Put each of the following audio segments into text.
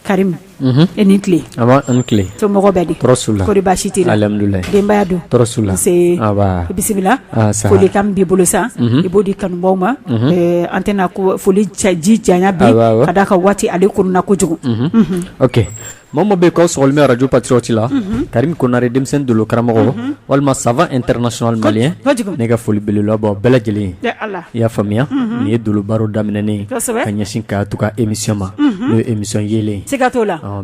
Karim i ni tile a an tile somɔgɔw bɛ di baasi tɛ alhamdulillah denbaya dun bisimila foli kan b'i bolo sa i b'o di kanubaw ma an tɛna ko foli ji janya bi ka d'a kan waati ale kunna kojugu Mama bɛ ka sli arajo Patriote la Karim Konare denmisɛn doolo karamɔgɔ walima savant international malien ne ka foli belebele bɛ bɛɛ lajɛlen ye i y'a faamuya nin ye doolo baro daminɛnen ka ɲɛsin Kajatu ka émission ma n'o ye émission Yeelen ye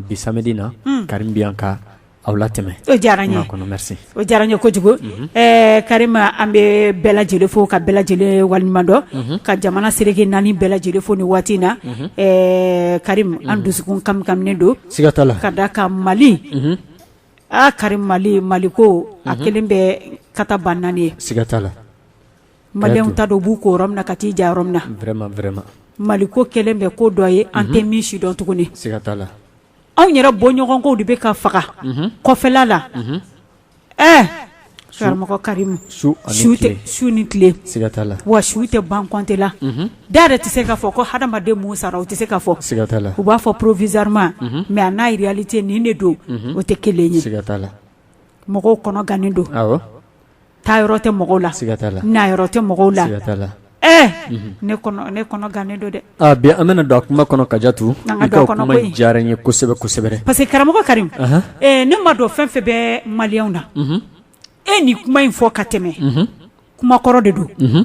bi samedi na Karim bɛ yan ka aw latɛmɛ diyara kɔnɔ O diyara n ye kojugu ɛɛ Karim an bɛ bɛɛ lajɛlen fo ka bɛɛ lajɛlen walenɲumandɔn ka jamana seleke naani bɛɛ lajɛlen fo ni waati in na ɛɛ Karim an dusukun kamikaminen don siga t'a la ka d'a kan mali aa Karim mali mali ko a kɛlen bɛ kata ban naani ye siga t'a la maliyɛnw ta don b'u ko yɔrɔ min na ka t'i diya yɔrɔ min na mali ko kɛlen bɛ ko dɔ ye an tɛ min sidɔn tuguni siga t'a la anw yɛrɛ bɔɲɔgɔnkow de bɛ ka faga kɔfɛla la ɛɛ karamɔgɔ Karim su ni tile siga t'a la wa su tɛ ban compte la da yɛrɛ tɛ se k'a fɔ ko hadamaden mun sara o tɛ se ka fɔ siga t'a la u b'a fɔ provisoirement mais a n'a réalité nin de don o tɛ kelen ye siga t'a la mɔgɔw kɔnɔ gannen don taa yɔrɔ tɛ mɔgɔw la siga t'a la na yɔrɔ tɛ mɔgɔw la siga t'a la ɛɛ unhun ne kɔnɔ ne kɔnɔ gannen don dɛ aa bi an bɛna don a kuma kɔnɔ Kajatu an ka i don a ka o kɔnɔ kuma koyi in diyara n ye kosɛbɛ kosɛbɛ dɛ parce que karamɔgɔ Karimu anhan ee ne ma dɔn fɛn fɛn bɛ maliyɛnw na unhun e ye nin kuma in fɔ ka tɛmɛ unhun kuma kɔrɔ de don unhun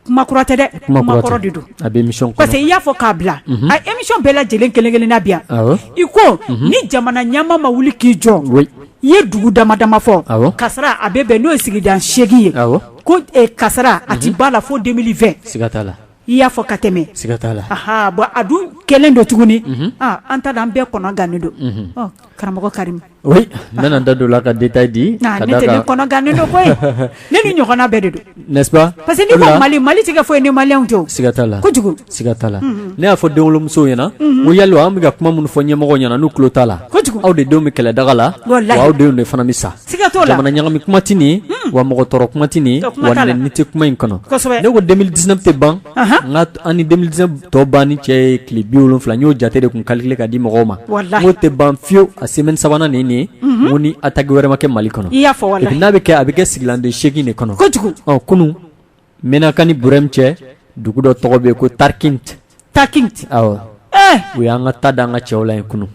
kuma kura tɛ dɛ kuma kura tɛ kuma kɔrɔ de don a bɛ émission kɔnɔ parce que i y'a fɔ k'a bila unhun a émission bɛɛ lajɛlen kelen-kelenna bi yan awɔ i ko unhun ni jamana ɲɛmaa ma wuli k'i jɔ oui i ye dugu dama dama fɔ awɔ kasara a bɛ bɛn n'o ye sigida seegin ye awɔ ko eh, kasara a ti b'a la fo 2020 siga t'a la i y'a fɔ ka tɛmɛ siga t'a la aha bon a dun kɛlen don tuguni ah, an ta da an bɛɛ kɔnɔ gannen don unhun Ɔ, karamɔgɔ karimu Oui n bɛna n da don o la ka détail di ka d'a kan, ne tɛ, ne kɔnɔ gannen don koyi, ne ni ɲɔgɔnna bɛɛ de don, n'est-ce pas parce que n'i ko Mali, Mali tɛ kɛ foyi ye ni Maliyɛnw tɛ, siga t'a la, kojugu, siga t'a la, unhun, ne y'a fɔ denwolomusow ɲɛna, unhun, n ko yali an bɛ ka kuma minnu fɔ ɲɛmɔgɔw ɲɛna n'u tulo t'a la, kojugu, aw de denw bɛ kɛlɛ daga la, walahi, wa aw denw de fana bɛ sa, siga t'o la, jamana ɲagami kuma tɛ nin ye, wa mɔgɔ tɔɔrɔ kuma tɛ nin ye, wa nɛni tɛ kuma in kɔnɔ, kosɛbɛ, ne ko 2019 tɛ ban, anhan, n ka an ni 2019 tɔ ban ni cɛ ye tile bi wolonwula n y'o jate de kun calculer ka di mɔgɔw ma n'o tɛ ban fiyewu a semaine sabanan nin ye mhm. ko ni attaque wɛrɛ ma kɛ mali kɔnɔ n'a bɛ kɛ a bɛ kɛ sigilanden seegin de kɔnɔ kunun Menaka ni Burɛmu cɛ dugu dɔ tɔgɔ bɛ yen ko Tarkint Tarkint awɔ eh! u y'an ka ta da an ka cɛw la yen kunun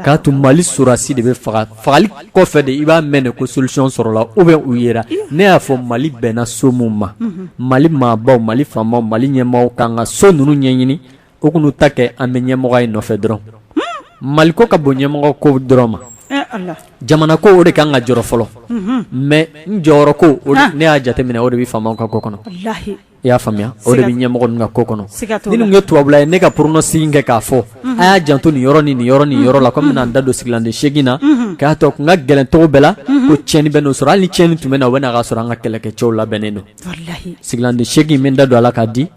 K'a tun mali sɔrɔdasi de bɛ faga fagali kɔfɛ de i b'a mɛn de ko solution sɔrɔla ou bien u yera ne y'a fɔ mali bɛnna so min ma mali maabaw mali faamaw mali ɲɛmɔgɔw k'an ka so ninnu ɲɛɲini u tun ta kɛ an bɛ ɲɛmɔgɔya nɔfɛ dɔrɔn mali ko ka bon ɲɛmɔgɔ ko dɔrɔn ma jamana ko o de ka kan ka jɔrɔ fɔlɔ mais n jɔyɔrɔ ko ne y'a jateminɛ o de bɛ faamaw ka ko kɔnɔ i y'a faamuya o de bɛ ɲɛmɔgɔ ninnu ka ko kɔnɔ ni nin ye tubabula ye ne ka pronostic kɛ k'a fɔ a y'a janto nin yɔrɔ ni nin yɔrɔ ni yɔrɔ la ko bɛna da don sigilan seegin na k'a to kun ka gɛlɛn cogo bɛɛ la ko tiɲɛni bɛ sɔrɔ hali ni tiɲɛni tun bɛ na o b'a sɔrɔ an ka kɛlɛkɛcɛw labɛnnen don sigilan seegin min da don a la k'a di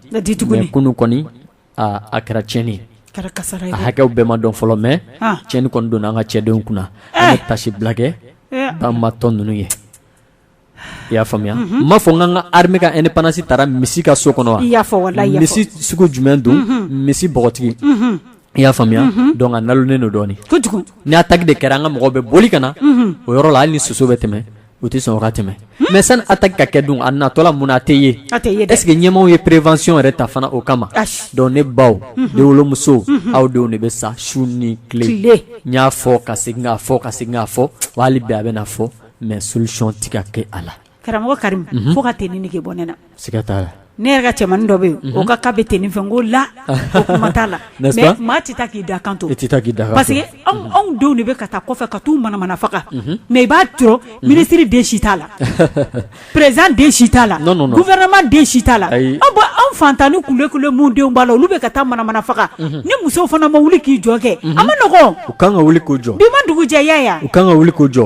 kunun kɔni a kɛra tiɲɛni ye a hakɛ bɛɛ ma dɔn fɔlɔ mais tiɲɛni kɔni donna an ka cɛdenw kunna an ye taasibila kɛ banbaatɔ ninnu ye i y'a faamuya n m'a fɔ n ka armée ka indépendance taara misi ka so kɔnɔ wa misi sugu jumɛn don misi bɔgɔtigi i y'a faamuya donc a nalonnen don dɔɔnin ni attaque de kɛra an ka mɔgɔw bɛ boli ka na o yɔrɔ la hali ni soso bɛ tɛmɛ u tɛ sɔn o ka tɛmɛ mais sani attaque ka kɛ dun a natɔla mun na a tɛ ye est-ce que ɲɛmaaw ye prévention yɛrɛ ta fana o kama donc ne baw denwolomusow aw denw de bɛ sa su ni tile n y'a fɔ ka segin k'a fɔ ka segin k'a fɔ wa hali bi a bɛna fɔ mais solution tɛ ka kɛ a la karamɔgɔ karim fo ka tenue nege bɔ ne na siga t'a la ne yɛrɛ ka cɛmannin dɔ bɛ yen o ka ka bɛ tenue fɛ n ko la o kuma t'a la mais maa tɛ taa k'i dakan to parce que anw denw de bɛ ka taa kɔfɛ ka t'u manamana faga mais i b'a sɔrɔ ministre den si t'a la Président den si t'a la gouvernement den si t'a la anw faantan ni kule kule minnu denw b'a la olu bɛ ka taa manamana faga ni musow fana ma wuli k'i jɔ kɛ a man nɔgɔ u kan ka wuli k'u jɔ bi ma dugujɛya yan u kan ka wuli k'u jɔ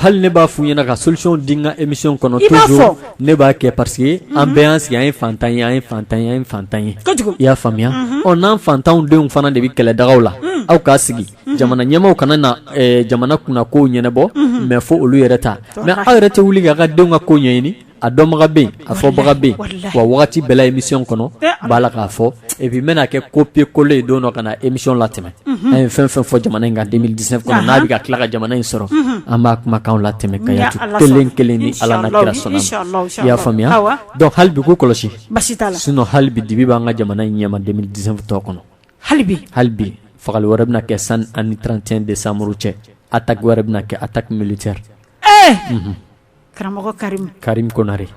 hali ne b'a f'u ɲɛna ka solution di n ka émission kɔnɔ toujours ne b'a kɛ parce que an bɛɛ an sigi an ye faantan ye an ye faantan ye an ye faantan ye i y'a faamuya ɔ n'an faantanw denw fana de bɛ kɛlɛdagaw la aw k'a sigi jamana ɲɛmaaw kana na jamana kunna kow ɲɛnabɔ mais fo olu yɛrɛ ta mais aw yɛrɛ tɛ wuli k'a ka denw ka ko ɲɛɲini a dɔnbaga bɛ a fɔbaga bɛ wa waati bɛɛ la émission kɔnɔ b'a la k'a fɔ et puis n bɛna kɛ copier coller ye don dɔ ka na émission latɛmɛ an ye fɛn fɛn fɔ jamana in kan deux mille dix-neuf kɔnɔ n'a bɛ ka tila ka jamana in sɔrɔ an b'a kumakanw latɛmɛ ka ya kelen kelen ni ala n'a kira sɔnna i y'a faamuya donc hali bi ko kɔlɔsi sinon hali bi dibi b'an ka jamana in ɲɛma deux mille dix-neuf tɔ kɔnɔ hali bi hali bi fagali wɛrɛ bɛna kɛ san ani trente et un décembre cɛ attaque wɛrɛ bɛna kɛ attaque militaire ɛɛ karamɔgɔ karim karim konare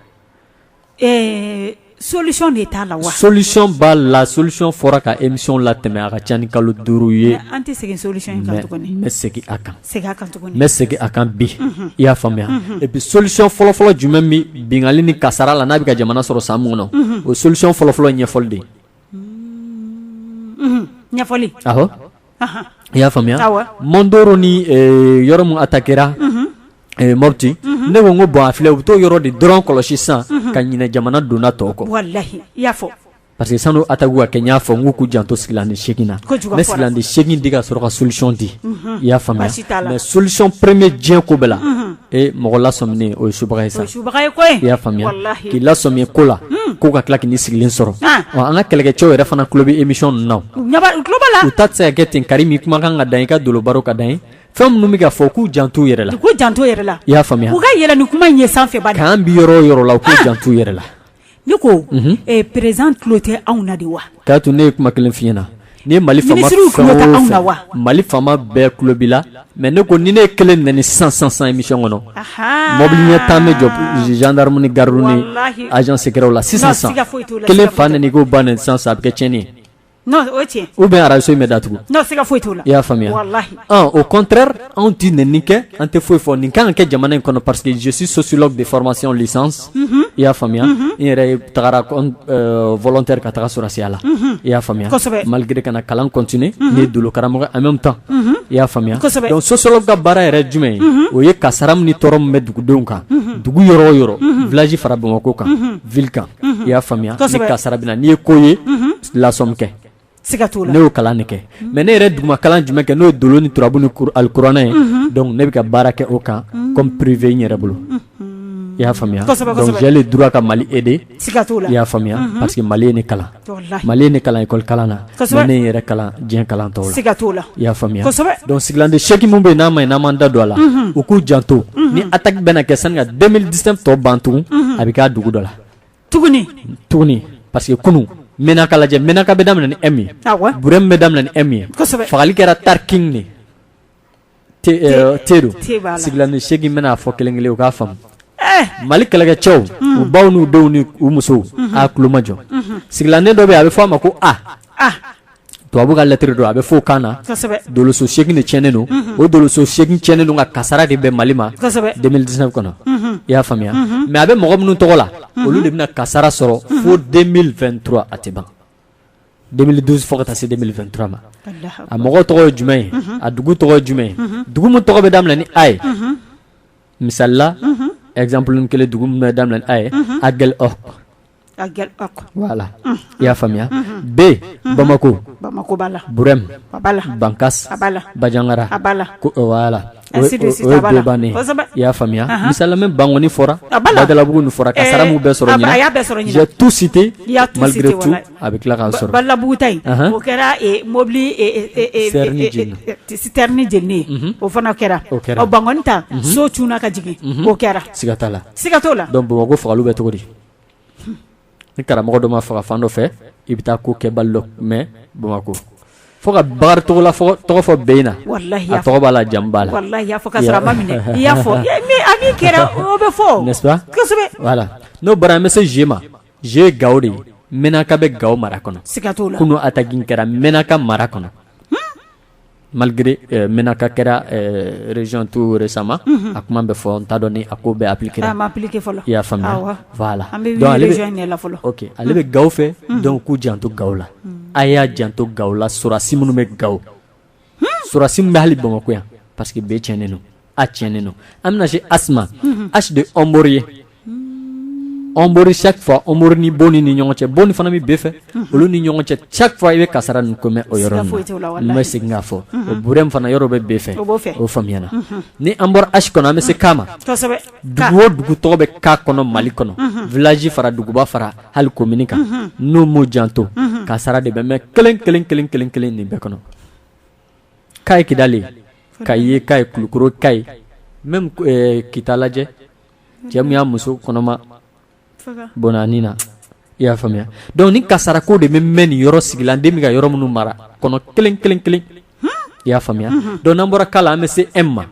ɛɛ solution de t'a la wa solution b'a la solution fɔra ka émission latɛmɛ a ka ca ni kalo duuru ye an tɛ segin solution in kan n bɛ segin a kan n bɛ segin a kan bi i y'a faamuya et puis solution fɔlɔfɔlɔ jumɛn min bingali ni kasara la n'a bɛ ka jamana sɔrɔ san mun kɔnɔ o solution fɔlɔfɔlɔ ɲɛfɔli de Unhun ɲɛfɔli awɔ anhan i y'a faamuya awɔ Mondoro ni ee yɔrɔ mun attaquéra unhun ee Mopti unhun ne ko n ko bon a filɛ u be t'o yɔrɔ de dɔrɔn kɔlɔsi sisan unhun ka ɲinɛ jamana donda tɔw kɔ walahi i y'a fɔ parce que sann'o attaquew ka kɛ n y'a fɔ n k'u k'u janto sigilanden 8 na kojugu a fɔra n ye sigilanden 8 di ka sɔrɔ ka solution di unhun i y'a faamuya baasi t'a la mais solution 1er diɲɛ ko bɛɛ la unhun ee mɔgɔ lasɔminen o ye subaga ye sa o ye subaga ye koyi i y'a faamuya walahi k'i lasɔmi ko la o ko ka tila ka n'i sigilen sɔrɔ an ɔ an ka kɛlɛkɛcɛw yɛrɛ fana tulo bɛ émission ninnu na o u ɲɛ b'a u tulo b'a la u ta tɛ se ka kɛ ten Karimu kumakan ka d'an ye i ka dolo baro ka d'an ye fɛn minnu bɛ ka fɔ k'u janto u yɛrɛ la u k'u janto u yɛrɛ la i y'a faamuya u ka yɛlɛ ni kuma in ye sanfɛ bani k'an bi yɔrɔ o yɔrɔ la u k'u janto u yɛrɛ la Ne ko président tulo tɛ anw na de wa k'a to ne ye kuma kelen f'i ɲɛ na ni ye mali wa mali faama bɛɛ tulo b'i la mais ne ko ni ne ye kelen nɛni sisan sisan émission kɔnɔ mobili ɲɛ tan bɛ jɔ gendarme ni gardew ni agent secret la sisan kelen fa nɛni k'o ba nɛni sisan a bɛ kɛ tiɲɛni ou bien arajoso in bɛ datugu i y'a faamuya au contraire anw tɛ nɛni kɛ an tɛ foyi fɔ nin ka kan ka kɛ jamana in kɔnɔ parce que je suis sociologue de formation licence i y'a faamuya n yɛrɛ tagara volontaire ka taga sɔrɔsiya la i y'a faamuya malgré ka na kalan continuer ne ye dolo karamɔgɔ en même temps i y'a faamuya donc sociologue ka baara yɛrɛ jumɛn ye o ye kasara min ni tɔɔrɔ min bɛ dugudenw kan dugu yɔrɔ o yɔrɔ village fara Bamakɔ kan ville kan i y'a faamuya ni kasara bɛ na n'i ye ko ye lasɔmi kɛ siga t'o la ne y'o kalan de kɛ mais ne yɛrɛ duguma kalan jumɛn kɛ n'o ye dolo ni turabu ni kur alikuranɛ ye donc ne bɛ ka baara kɛ o kan comme privé n yɛrɛ bolo i y'a faamuya Kosɛbɛ, kosɛbɛ. donc j'ai le droit ka Mali aider siga t'o la i y'a faamuya parce que Mali ye ne kalan Walahi. Mali ye ne kalan école kalan na Kosɛbɛ. mais ne ye n yɛrɛ kalan diɲɛ kalan tɔw la siga t'o la i y'a faamuya Kosɛbɛ. donc sigilanden 8 min bɛ yen n'a ma ɲi n'an m'an da don a la u k'u janto ni attaque bɛna kɛ sani ka 2019 tɔ ban tugun a bɛ k'a dugu dɔ la tuguni tuguni parce que kunun Menaka lajɛ Menaka bɛ daminɛ ni m ye burɛm bɛ daminɛ ni m ye fagali kɛra Tarkint ni T don sigilanden seegin bɛna fɔ kelen kelen u k'a faamu eh! mali kɛlɛkɛcɛw hmm. u baw n'u denw ni u musow hmm. a tulomajɔ hmm. sigilanden dɔ bɛ a bɛ fɔ a ma ko a tubabu ka lettre don a bɛ fɔ o kan na doloso segin de tiɲɛnen don o doloso segin tiɲɛnen don ka kasara de bɛ mali ma 2019 kɔnɔ i y'a faamuya mais a bɛ mɔgɔ minnu tɔgɔ la olu de bɛna kasara sɔrɔ fo 2023 a tɛ ban 2019 fo ka taa se 2023 ma a mɔgɔ tɔgɔ ye jumɛn ye a dugu tɔgɔ ye jumɛn ye dugu min tɔgɔ bɛ daminɛ ni a ye misali la exemple kelen dugu min bɛ daminɛ ni a ye Aguelhok i y'a faamuya b bamakɔ bamakɔ bɛm ban bajagara i y'a faamuya misalamɛ bankɔni fɔra abugu fɔra ka samu bɛɛ sɔrɔ tu site a bɛ tila ka sɔrɔbugu o kɛra mɔbili ni j o fana kɛra o kɛra ban ta so c ka jigin o kɛra sigata la sigaka la bamakɔ faga bɛ cogo di ni karamɔgɔ dɔ ma faga fan dɔ fɛ i bɛ taa kokɛbali dɔ mɛn bamakɔ fo ka bakari tɔgɔla tɔgɔ fɔ b in na a tɔgɔ b'a la jamu b'a la n'est-ce pas voilà n'o bɔra an bɛ se g ma g ye gawo de menaka bɛ gawo mara kɔnɔ kunun attaque in kɛra menaka mara kɔnɔ Malgré ɛɛ menaka kɛra ɛɛ région tout récemment unhun, a kuma bɛ fɔ n t'a dɔn ni a ko bɛ appliquer a ma appliquer fɔlɔ, i y'a faamuya, awɔ, voilà an bɛ wuli région de la fɔlɔ, donc ale bɛ ok ale bɛ Gawo fɛ donc k'u janto Gawo la, a y'a janto Gawo la sɔrɔdasi minnu bɛ Gawo, sɔrɔdasi minnu bɛ hali Bamakɔ yan parce que B cɛnnen don a tiɲɛnen don an bɛna se h ma h de ɔnbori ye ɔnbori chaque fois ɔnbori ni bonni ni ɲɔgɔn cɛ bonni fana bɛ b fɛ olu ni ɲɔgɔn cɛ chaque fois i bɛ kasara nin ko mɛn o yɔrɔ ninnu n bɛ segin k'a fɔ o burɛm fana yɔrɔ bɛ b fɛ o faamuyana ni an bɔra h kɔnɔ an bɛ se k ma dugu o dugu tɔgɔ bɛ k kɔnɔ mali kɔnɔ village fara duguba fara hali komini kan n'u m'u janto kasara de bɛ mɛn kelen kelen kelen kelen kelen nin bɛɛ kɔnɔ k ye kidali k ye kayi kulukoro k ye même eh, kita lajɛ cɛ min y'a muso kɔnɔma bɔnɛ a ni na i y'a faamuya donc ni kasara ko de bɛ mɛn nin yɔrɔ sigilanden bɛ k yɔrɔ minnu mara kɔnɔ kelen kelen kelen i y'a faamuya donc n'an bɔra k la an bɛ se m ma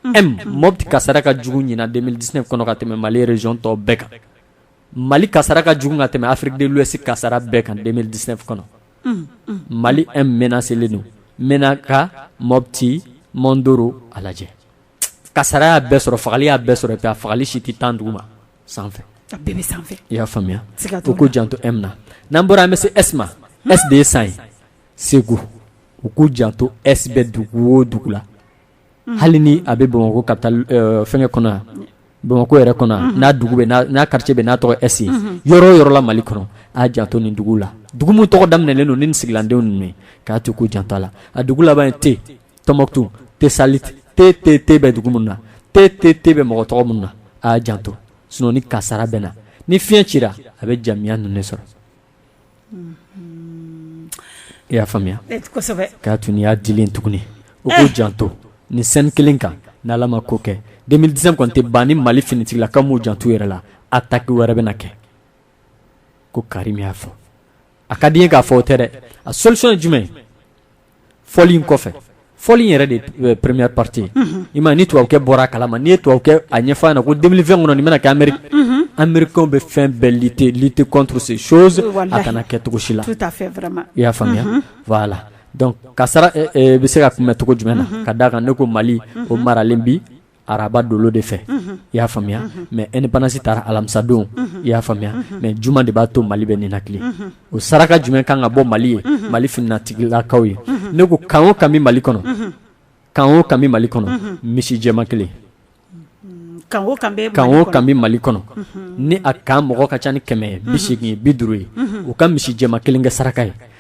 m mɔti kasara ka jugu ɲinan deux mille dix-neuf kɔnɔ ka tɛmɛ mali région tɔw bɛɛ kan mali kasara ka jugu ka tɛmɛ afrique de l'ouest kasara bɛɛ kan deux mille dix-neuf kɔnɔ mali m menacélen don menaka mɔti mondoro a lajɛ kasara y'a bɛɛ sɔrɔ fagali y'a bɛɛ sɔrɔ fagali si tɛ tan duguma sanfɛ i y'a faamuya u k'u janto m na n'an bɔra an bɛ se s ma s de ye san ye segu u k'u janto s bɛ dugu o dugu la hali ni a bɛ bamakɔ capitale fɛnkɛ kɔnɔ yan bamakɔ yɛrɛ kɔnɔ yan n'a dugu bɛ n'a quartier bɛ n'a tɔgɔ s ye yɔrɔ o yɔrɔ la mali kɔnɔ a janto nin dugu la dugu min tɔgɔ daminɛen don ni nin sigilandenw ninnu ye k'a to u k'u janto a la a dugu laban ye t tɔnbuktu tesaliti t t t bɛ dugu minnu na t t t bɛ mɔgɔ tɔgɔ minnu na a janto sinon ni kasara bɛ na ni fiɲɛ cira a bɛ jamiya ninnu sɔrɔ I y'a faamuya k'a to n'i y'a dilan tuguni u k'u janto nin sen kelen kan ni ala ma ko kɛ deux mille dix-neuf kɔni tɛ ban ni mali finitigilakaw m'u janto yɛrɛ la attaque wɛrɛ bɛ na kɛ ko karim y'a fɔ a ka di n ye k'a fɔ o tɛ dɛ a solution ye jumɛn fɔli in kɔfɛ fɔli in yɛrɛ de première partie i ma ni tubabukɛ bɔra a kala ma n' ye tubabukɛ a ɲɛfɔ a ɲɛ na ko deux mille vingt kɔnɔ nin bɛna kɛ amerikɛnw bɛ fɛn bɛɛ lutter lutter contre ces choses a kana kɛ cogo si la i y'a faamuya voilà donc kasara bɛ se ka kunbɛn cogo jumɛn na ka d'a kan ne ko mali o maralen bi araba dolo de fɛ i y'a faamuya mais indépendance tara alamisadon i y'a faamuya mais juma de b'a to mali bɛ ninakili o saraka jumɛn kan ka bɔ mali ye mali finitigilakaw ye ne ko kan o kan bi mali kɔnɔ kan o kan bi mali kɔnɔ misi jɛman kelen kan o kan bi mali kɔnɔ ni a kan mɔgɔ ka ca ni kɛmɛ bi segin ye bi duuru ye u ka misi jɛman kelen kɛ saraka ye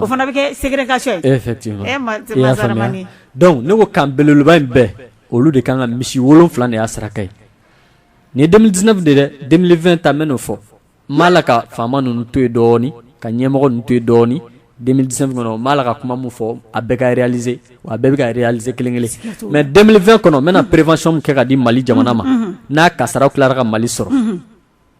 o fana bɛ kɛ ségrégation ye donc ne ko kan belebeleba in bɛɛ olu de kan ka misi wolonwula de y'a saraka ye nin ye deux mille dix-neuf de dɛ deux mille vingt ta n bɛ n'o fɔ n b'a la ka faama ninnu to yen dɔɔnin ka ɲɛmɔgɔ ninnu to yen dɔɔnin deux mille dix-neuf kɔnɔ n b'a la ka kuma min fɔ a bɛɛ ka réaliser a bɛɛ bɛ ka réaliser kelen kelen mais deux mille vingt kɔnɔ n bɛna prévention min kɛ ka di mali jamana ma n'a kasaraw tilara ka mali sɔrɔ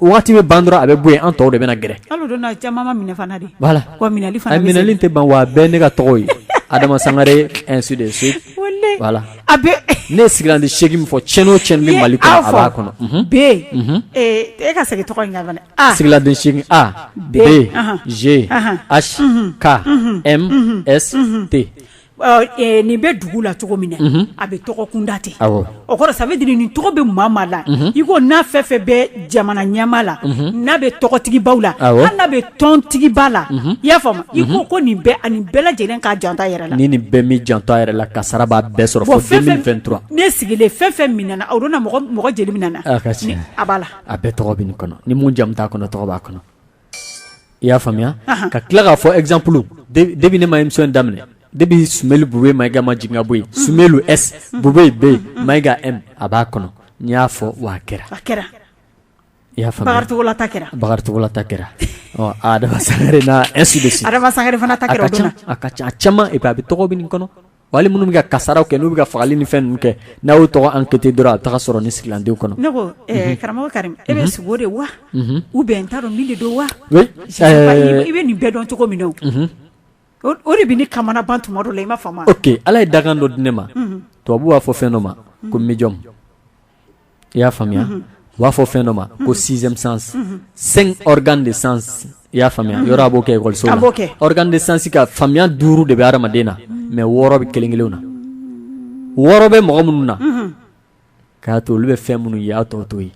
waati bɛ ban dɔrɔn a bɛ bɔ an tɔw de bɛ gɛrɛ minɛli tɛ ban wa bɛɛ ne ka tɔgɔ ye adama sangare ne sigira ni se min fɔ cɛn o cɛ ni mali kɔnɔ ze ayi ka Nin bɛ dugu la cogo min na a bɛ tɔgɔ kunda ten o kɔrɔ ça veut dire nin tɔgɔ bɛ maa maa la i ko n'a fɛn fɛn bɛ jamana ɲɛmaa la n'a bɛ tɔgɔtigibaw la hali n'a bɛ tɔntigiba la i y'a faamuya i ko ko nin bɛɛ ani bɛɛ lajɛlen k'a janto a yɛrɛ la ni nin bɛɛ m'i janto a yɛrɛ la kasara b'a bɛɛ sɔrɔ fo deux mille vingt-trois ne sigilen fɛn fɛn minɛna o don na mɔgɔ jɛli minɛna a b'a la a bɛɛ tɔgɔ bɛ nin kɔnɔ ni min jamu t'a kɔnɔ tɔgɔ b'a kɔnɔ i y'a faamuya ka tila k'a fɔ ezanp debi ne ma ye in daminɛ de bɛ sun bu bɛ ma ikama jigin bɔ yen sun bɛ bu bɛ bɛ yen ma ika a b'a kɔnɔ n y'a fɔ wa kɛra kɛra i y'a fɔcogola kɛra bakarijancogola kɛra sa sa fana a ka ca a bɛ tɔgɔ bɛ nin kɔnɔ Wali minnu bɛ ka kasaraw kɛ n'u bɛ ka fagali ni fɛn ninnu kɛ n'a y'o tɔgɔ enquêter dɔrɔn a taga sɔrɔ ni sigilandenw kɔnɔ ne ko karamɔgɔ karim e bɛ sugo de wa ou bien n t'a dɔn mun de don wa i bɛ nin bɛɛ dɔn cogo min na o de bɛ ne kamanagan tuma dɔ la i m'a faamu ok ala ye dakan dɔ di ne ma tubabu b'a fɔ fɛn dɔ ma ko médium i y'a faamuya u b'a fɔ fɛn dɔ ma ko sixième sens cinq organes de sens i y'a faamuya yɔrɔ a b'o kɛ école so la organes de sens ka faamuya duuru de bɛ hadamaden na mais wɔɔrɔ bɛ kelen kelenw na wɔɔrɔ bɛ mɔgɔ minnu na k'a to olu bɛ fɛn minnu ye a tɔ t'o ye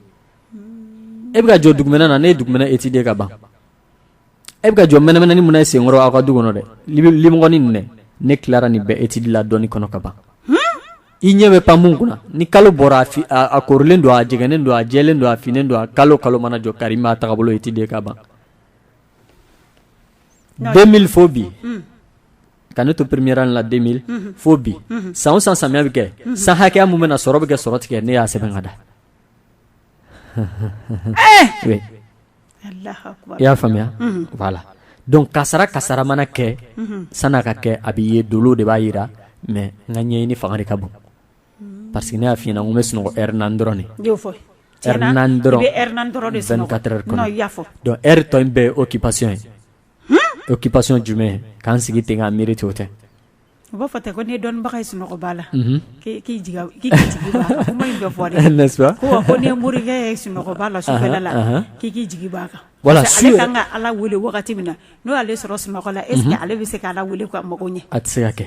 e bɛ ka jɔ dugumɛnɛ na ne ye dugumɛnɛ étudier ka ban e bɛ ka jɔ mɛnɛmɛnɛnin min na i sen kɔrɔ aw ka du kɔnɔ dɛ limɔgɔnin ninnu dɛ ne tilara nin bɛɛ étude la dɔnni kɔnɔ ka ban i ɲɛ bɛ pan min kunna ni kalo bɔra a korilen don a jɛgɛnnen don a jɛlen don a finnen don a kalo kalo mana jɔ Karim y'a taabolo étudier ka ban deux mille fo bi ka ne to première année la deux mille fo bi san o san samiya bɛ kɛ san hakɛya min bɛ na sɔrɔ bɛ kɛ sɔrɔ tɛ kɛ ne y'a sɛbɛn ka da i y'a faamuya la don kasara kasara mana kɛ san ka kɛ a bɛ ye do de b'a jira mɛ n ka ɲɛ ni fanga ka bon pa que ne y'a fɔ n bɛ sunɔgɔ n dɔrɔn tɔ bɛ oki pasɔn ye o ki pasɔn jumɛn k'an sigi ten k' miiri cogo tɛ U b'a fɔ ten ko n'i ye dɔnnibaga ye sunɔgɔ b'a la k'i jigi b'a kan kuma in bɛ fɔ de n'est-ce pas ko n'i ye morikɛ ye sunɔgɔ b'a la sufɛ la k'i jigi b'a kan voilà parce que ale kan ka ala wele wagati min na n'o y'ale sɔrɔ sunɔgɔ la est-ce que ale bɛ se k' ala wele ka mago ɲɛ a tɛ se ka kɛ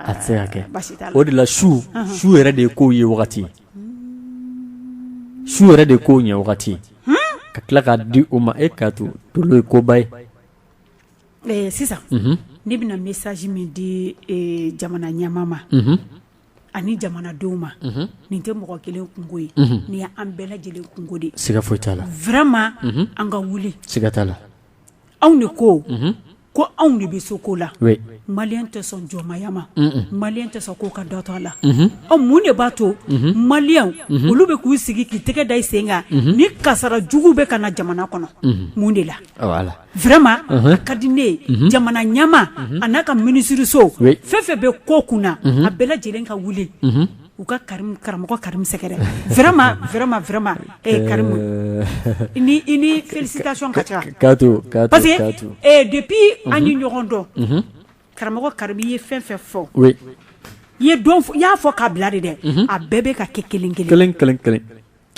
a tɛ se ka kɛ o de la su su yɛrɛ de ye ko ye wagati su yɛrɛ de ye ko ɲɛ wagati ka tila k'a di o ma e k'a to dolo ye koba ye Ɛɛ sisan ne bɛna message min di jamana ɲɛmaa ma ani jamanadenw ma nin tɛ mɔgɔ kelen kunko ye nin ye an bɛɛ lajɛlen kunko de ye, siga foyi t'a la, vraiment an ka wuli, siga t'a la, anw de ko ko anw de bɛ se ko la, oui, maliyɛn tɛ sɔn jɔnmaya ma, unhun, maliyɛn tɛ sɔn ko ka dɔ to a la, unhun, ɔ mun de b'a to maliyɛnw olu bɛ k'u sigi k'i tɛgɛ da i sen kan ni kasara jugu bɛ ka na jamana kɔnɔ mun de la Vraiment a ka di ne ye jamana ɲɛmaa a n'a ka minisiririso fɛn fɛn bɛ ko kunna a bɛɛ lajɛlen ka wuli u ka karamɔgɔ Karim sɛgɛrɛ vraiment vraiment Karim i ni félicitation ka kan parce que depuis an ye ɲɔgɔn dɔn karamɔgɔ Karim i ye fɛn fɛn fɔ i y'a fɔ k'a bila de dɛ a bɛɛ bɛ ka kɛ kelen kelen kelen kelen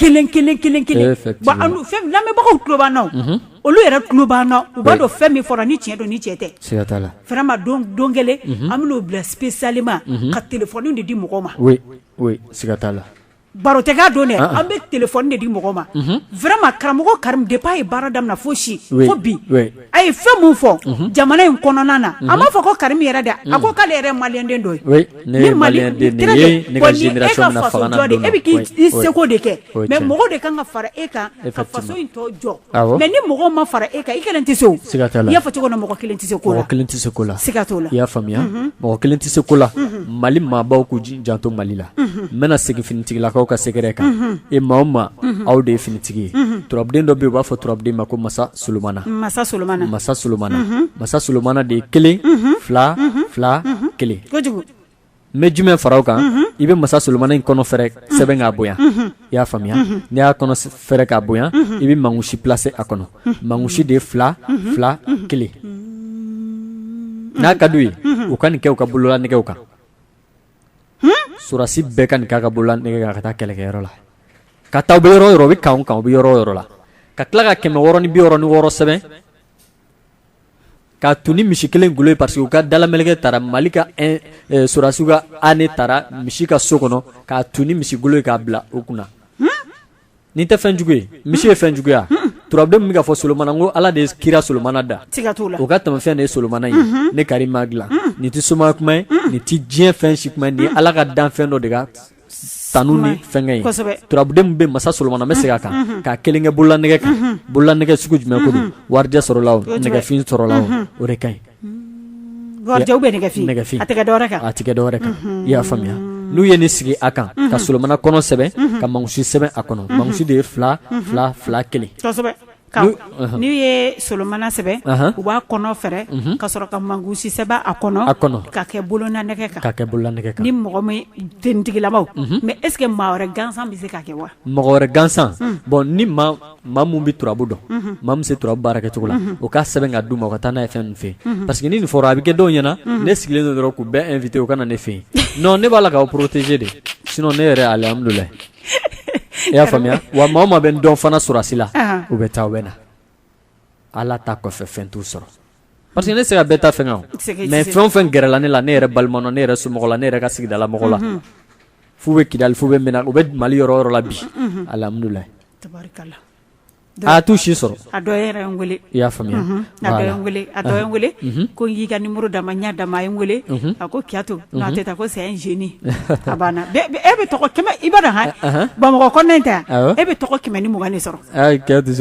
kelen kelen kelen kelen wa lamɛnbagaw tuloba olu yɛrɛ tuloba u b'a dɔn fɛn min fɔra ni cɛn don ni cɛ tɛ fɛnma don don kelen an bɛ bila pe salilima ka tile kunnafoni de di mɔgɔ ma la la baro tɛkan don an bɛ tile kunnafoni de di mɔgɔ ma fɛrɛma karamɔgɔ kari de' ye baara daminɛ fo si fo bi a ye fɛn min fɔ jamana in kɔnɔna na a m'a fɔ ko karim yɛrɛ dɛ a ko k'ale yɛrɛ maliyɛnden dɔ ye i seko de kɛ mais mɔgɔw de kan ka fara e kan ka faso in tɔ jɔ mais ni mɔgɔ ma fara e kan i kelen tɛ se i y'a fɔ cogo min na mɔgɔ kelen tɛ se ko kelen tɛ se ko la siga t'o la i y'a faamuya mɔgɔ kelen tɛ se ko la mali maabaw k'u janto mali la n bɛna segin finitigilakaw ka sɛgɛrɛ kan e maa o maa aw de ye finitigi ye turabuden dɔ bɛ yen u b'a fɔ turabuden ma ko masa solonmana masa solonmana masa solonmana masa solonmana de ye kelen fila fila kelen n bɛ jumɛn fara o kan i bɛ masa solonmana in kɔnɔ fɛrɛ sɛbɛn k'a bonya i y'a faamuya n'i y'a kɔnɔ fɛrɛ k'a bonya i bɛ mankusi placer a kɔnɔ mankusi de ye fila fila kelen n'a ka d'u ye u ka nin kɛ u ka bolola nɛgɛw kan sɔrɔdasi bɛɛ ka nin k'a ka bolola nɛgɛ kan ka taa kɛlɛkɛyɔrɔ la ka taa u bɛ yɔrɔ o yɔrɔ u bɛ kan o kan u bɛ yɔrɔ o yɔrɔ la ka tila ka kɛmɛ wɔɔrɔ ni bi wɔɔrɔ ni wɔɔrɔ sɛbɛn k'a tun ni misi kelen golo ye parce que u ka dalameleke taara mali ka sɔrɔdasiw ka année taara misi ka so kɔnɔ k'a tun ni misi golo ye k'a bila u kunna Nin tɛ fɛn jugu ye misi ye fɛn juguya turabuden min bɛ ka fɔ solonmana ko ala de ye kira solonmana da o ka tɛmɛfɛn de ye solonmana ye ne karim m'a dilan nin tɛ soma kuma ye nin tɛ diɲɛ fɛn si kuma ye nin ye ala ka danfɛn dɔ de ka sanu ni fɛnkɛ ye turabuden min bɛ masa solonmana bɛ segin a kan k'a kelen kɛ bolola nɛgɛ kan bolola nɛgɛ sugu jumɛn don warijɛ sɔrɔla nɛgɛfin sɔrɔla o de ka ɲi Warijɛ ou bien nɛgɛfin nɛgɛfin a tɛ kɛ dɔwɛrɛ kan a tɛ kɛ dɔwɛrɛ kan i y'a faamuya n'u ye nin sigi a kan ka solonmana kɔnɔ sɛbɛn ka mankusi sɛbɛn a kɔnɔ mankusi de ye fila fila fila kelen n'u ye solonmana sɛbɛn u b'a kɔnɔ fɛrɛ ka sɔrɔ ka mankusi sɛbɛn a kɔnɔ k'a kɛ bolona nɛgɛ kan k'a kɛ bolona nɛgɛ kan ni mɔgɔ min tenitigilamaw mais est-ce que maa wɛrɛ gansan bɛ se k'a kɛ wa mɔgɔ wɛrɛ gansan bon ni maa min bɛ turabu dɔn, unhun, maa min bɛ se turabu baara kɛcogo la, unhun, o k'a sɛbɛn k'a d'u ma u ka taa n'a ye fɛn ninnu fɛ yen, unhun, parce que ni nin fɔra a bɛ kɛ dɔw ɲɛna, unhun, ne sigilen don dɔrɔn k'u bɛɛ invité u ka na ne fɛ yen non ne b'a la k'aw protéger de sinon ne yɛrɛ alihamudulila i y'a faamuya wa maa o maa bɛ n dɔn fana sɔrɔdasi la, anhan, u bɛ taa u bɛ na Ala ta kɔfɛ fɛn t'u sɔrɔ Parce que ne se ka bɛɛ ta fɛn mais fɛn o fɛn gɛrɛla ne la ne yɛrɛ balimaw ne yɛrɛ somɔgɔ la ne yɛrɛ ka sigidala mɔgɔ la f'u bɛ kidali f'u bɛ u bɛ mali yɔrɔ o yɔrɔ la bi alihamudulila a t'u si sɔrɔ a i y'a faamuya ko n y'i ka numéro d'a ma n y'a d'a ma a ye n wele a ko kito a tɛ taa ko c'est un génie a banna e bɛ i b'a dɔn bamakɔ kɔnɔna tɛ e bɛ tɔgɔ kɛmɛ ni mugan de sɔrɔ Kɛ tɛ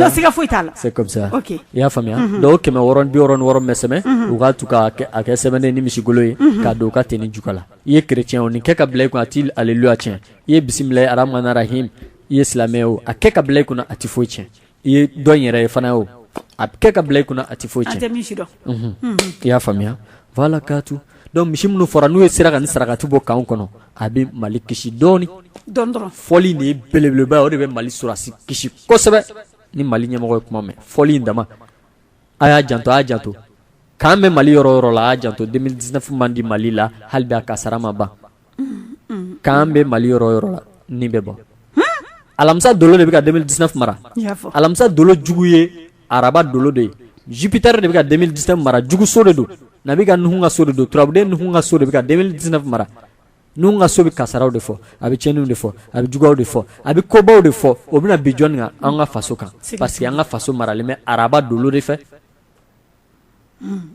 siga foyi t'a la c'est comme ça i y'a faamuya donc kɛmɛ wɔɔrɔ ni bi wɔɔrɔ ni wɔɔrɔ mɛ sɛbɛn u k'a tu k'a kɛ sɛbɛnden ni misi golo ye k'a don u ka tenue jufa la i ye chrétien o nin kɛ ka bila i kun a t'i alléluia tiɲɛ i ye bisimilahi arahmani rahim i ye silamɛ o a kɛ ka bila i kunna a tɛ foyi tiɲɛ i ye dɔ yɛrɛ ye fana o a kɛ ka bila i kunna a tɛ foyi tiɲɛ i y'a faamuya voilà k'a to dɔnku misi minnu fɔra n'u ye sera ka nin sarakati bɔ camp kɔnɔ a bɛ mali kisi dɔɔnin fɔli nin ye belebeleba o de bɛ mali sɔrɔsi kisi kosɛbɛ ni mali ɲɛmɔgɔ ye kuma mɛn fɔli in dama a y'a janto a y'a janto camp bɛ mali yɔrɔ yɔrɔ la a y'a janto deux mille dix-neuf man di mali la hali bi a kasara ma ban camp bɛ mali yɔrɔ yɔrɔ la nin bɛ bɔ alamisa dolo de bɛ ka deux mille dix-neuf mara alamisa dolo jugu ye araba dolo de ye Jupiter de bɛ ka deux mille dix-neuf mara juguso de don nabi ka Nuhun ka so de don turabuden Nuhun ka so de bɛ ka deux mille dix-neuf mara Nuhun ka so bɛ kasaraw de fɔ a bɛ cɛnniw de fɔ a bɛ juguyaw de fɔ a bɛ kobaw de fɔ o bɛna bin jɔnni kan an ka faso kan parce que an ka faso maralen bɛ araba dolo de fɛ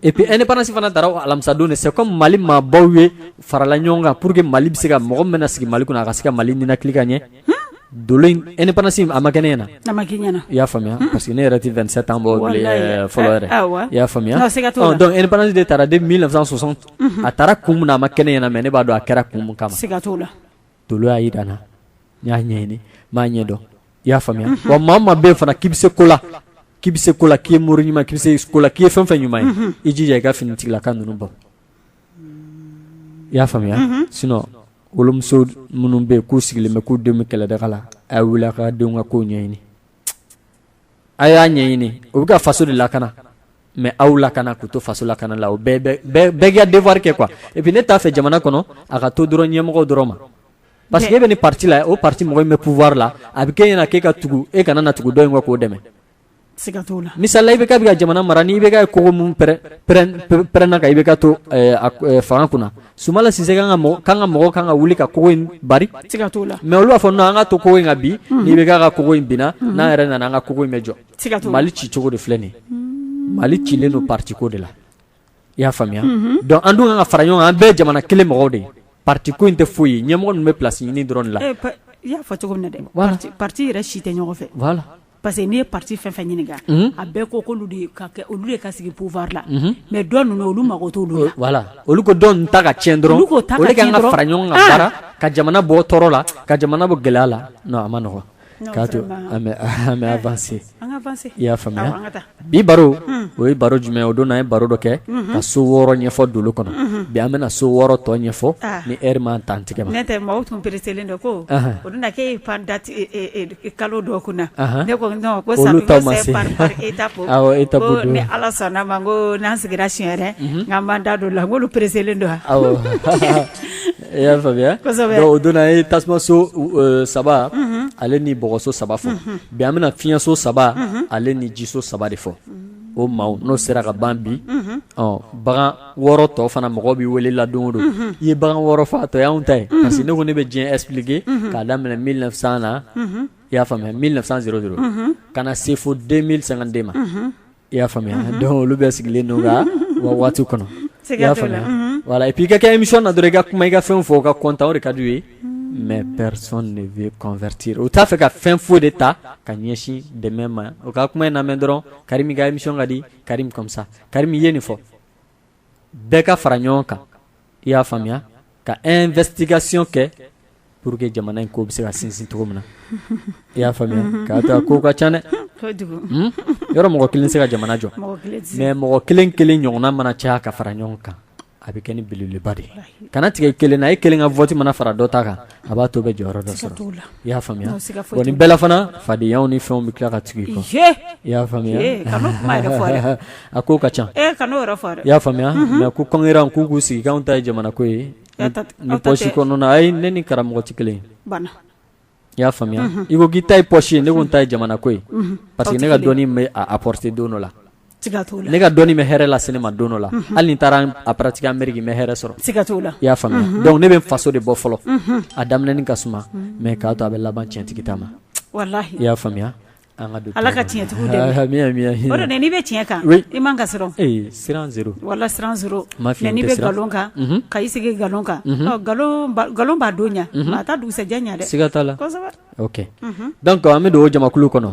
Et puis indépendance fana tara alamisadon de c'est comme mali maabaw ye farala ɲɔgɔn kan pur que mali bɛ se ka mɔgɔ min bɛna sigi mali kunna a ka se ka mali ninakili ka ɲɛ dolo indépendance a ma kɛ ne ɲɛna i y'a faamuya parce que ne yɛrɛ tɛ vingt-sept ans bɔ fɔlɔ yɛrɛ i y'a faamuya donc indépendance de tara depuis mille neuf cent soixante a tara kun min na a ma kɛ ne ɲɛna mais ne b'a dɔn a kɛra kun min kama dolo y'a jira n na n y'a ɲɛɲini n m'a ɲɛ dɔn i y'a faamuya wa maa o maa bɛ yen fana k'i bɛ se ko la k'i bɛ se ko la k'i ye mori ɲuman k'i bɛ se ko la k'i ye fɛn fɛn ɲuman ye i jija i ka finitigilaka ninnu bɔ i y'a faamuya sinon wolomuso minnu bɛ yen k'u sigilen bɛ k'u denw bɛ kɛlɛdaga la a ye wuli a ka denw ka ko ɲɛɲini a y'a ɲɛɲini u bɛ ka faso de lakana mais aw lakana k'u to faso lakana la o bɛɛ k'i ka devoir kɛ quoi et puis ne t'a fɛ jamana kɔnɔ a ka to dɔrɔn ɲɛmɔgɔw dɔrɔn ma parce que e bɛ nin pati la o pati mɔgɔ in bɛ pouvoir la a bɛ k'e ɲɛna k'e ka tugu e kana na tugu dɔ in kɔ k'o dɛmɛ misala IBK bɛ ka jamana mara ni IBK kogo min pɛ-pɛrɛnna ka IBK to eh, eh, fanga kunna Sumayila Sise camp ka mɔgɔw kan ka wuli ka kogo in bari mais olu b'a fɔ non an ka to kogo in ka bin ni IBK ka kogo in binna n'an yɛrɛ nana an ka kogo in bɛ jɔ mali ci cogo de filɛ nin mali cilen don patiko de la i y'a faamuya dɔnku an dun kan ka fara ɲɔgɔn kan an bɛɛ jamana kelen mɔgɔw de ye patiko in tɛ foyi ye ɲɛmɔgɔ ninnu bɛ place ɲini dɔrɔn la parce que n'i ye parti fɛn fɛn ɲininka a bɛɛ ko k'olu de ka kɛ olu de ka sigi pouvoir la mais dɔ ninnu olu mago t'olu la voilà olu ko dɔ ninnu ta ka tiɲɛ dɔrɔn olu k'o ta ka tiɲɛ dɔrɔn. olu de kan ka fara ɲɔgɔn kan Ah! baara ka jamana bɔ tɔɔrɔ la ka jamana bɔ gɛlɛya la non a man nɔgɔn Non, k'a to vraiment. an bɛ an bɛ avancer an ka avancer i y'a faamuya Awɔ, an ka taa bi baro o ye baro jumɛn o don na an ye baro dɔ kɛ ka so wɔɔrɔ ɲɛfɔ dolow kɔnɔ bi an bɛna so wɔɔrɔ tɔ ɲɛfɔ ni heure m'a ta an tigɛ ma nɛti maaw tun pereselen don ko o don na k' ye pan da kalo dɔ kunna ne ko ko c'est par étape ni ala sɔnna a ma ko n'an sigira siɲɛ wɛrɛ k'an b'an da don la n k'olu pereselen don wa i y'a faamuya o don na an ye tasumaso saba ale ni bɔgɔso saba fɔ bi an bɛna fiɲɛso saba ale ni jiso saba de fɔ o maaw n'o sera ka ban bi ɔ bagan wɔɔrɔ tɔ fana mɔgɔ bɛ wele la o don i ye bagan wɔɔrɔ fɔ a tɔ y'anw ta ye parce que ne ko ne bɛ diɲɛ expliquer k'a daminɛ 1900 na i y'a faamuya 1900 ka na se fo 2052 ma i y'a faamuya donc olu bɛɛ sigilen don ka waati kɔnɔ i y'a faamuya voilà et puis i ka kɛ émission na dɔrɔn i ka kuma i ka fɛn fɔ u ka content o de ka d'u ye mais personne ne veut convertir u t'a fɛ ka fɛn foyi de ta ka ɲɛsin dɛmɛ ma u ka kuma in lamɛn dɔrɔn Karimu i ka émission ka di Karimu comme ça Karimu ye nin fɔ bɛɛ ka fara ɲɔgɔn kan i y'a faamuya ka investigation kɛ pour que jamana in ko bɛ se ka sinsin cogo min na i y'a faamuya k'a to a ko ka ca dɛ hmm? yɔrɔ mɔgɔ kelen se ka jamana jɔ mais mɔgɔ kelen kelen ɲɔgɔnna mana caya ka fara ɲɔgɔn kan a bɛ kɛ ni belebeleba de ye kana tigɛ kelen na e kelen ka vote mana fara dɔ ta kan a b'a to bɛ jɔyɔrɔ dɔ sɔrɔ t'o la i y'a faamuya Nka siga foyi t'o la. bon nin bɛɛ la fana fadenyaw ni fɛnw bɛ tila ka tugu i kɔ Ye! i y'a faamuya Ee, kana o kuma yɛrɛ fɔ dɛ. a ko ka ca Ee, kana o yɛrɛ fɔ dɛ. i y'a faamuya mais ko kɔnkɛran k'u k'u sigi k'anw ta ye jamana ko ye Aw ta tɛ- ni aw ta pɔsi tɛ. kɔnɔna ayi ne ni karamɔgɔ tɛ kelen ye Bana. i y'a faamuya i ko k'i ta ye pɔsi ye ne ko n ta ye jamana ko ye parce que Aw tɛ ne ka kelen. dɔnni bɛ a apporter don dɔ la ne ka dɔnni bɛ hɛrɛ lase ne ma don dɔ la hali ni n taara a pratiquer Amérique n bɛ hɛrɛ sɔrɔ i y'a faamuya donc ne bɛ faso de bɔ fɔlɔ a daminɛni ka suma mais k'a to a bɛ laban tiɲɛtigi ta ma i y'a faamuya ala ka tiɲɛtigiw dɛmɛ o de n'i bɛ tiɲɛ kan i man ka siran siran zéro voilà siran zéro mais n'i bɛ nkalon kan ka i sigi nkalon kan nkalon b'a don ɲɛ a t'a dugusɛjɛ ɲɛ dɛ ok donc an bɛ don o jamakulu kɔnɔ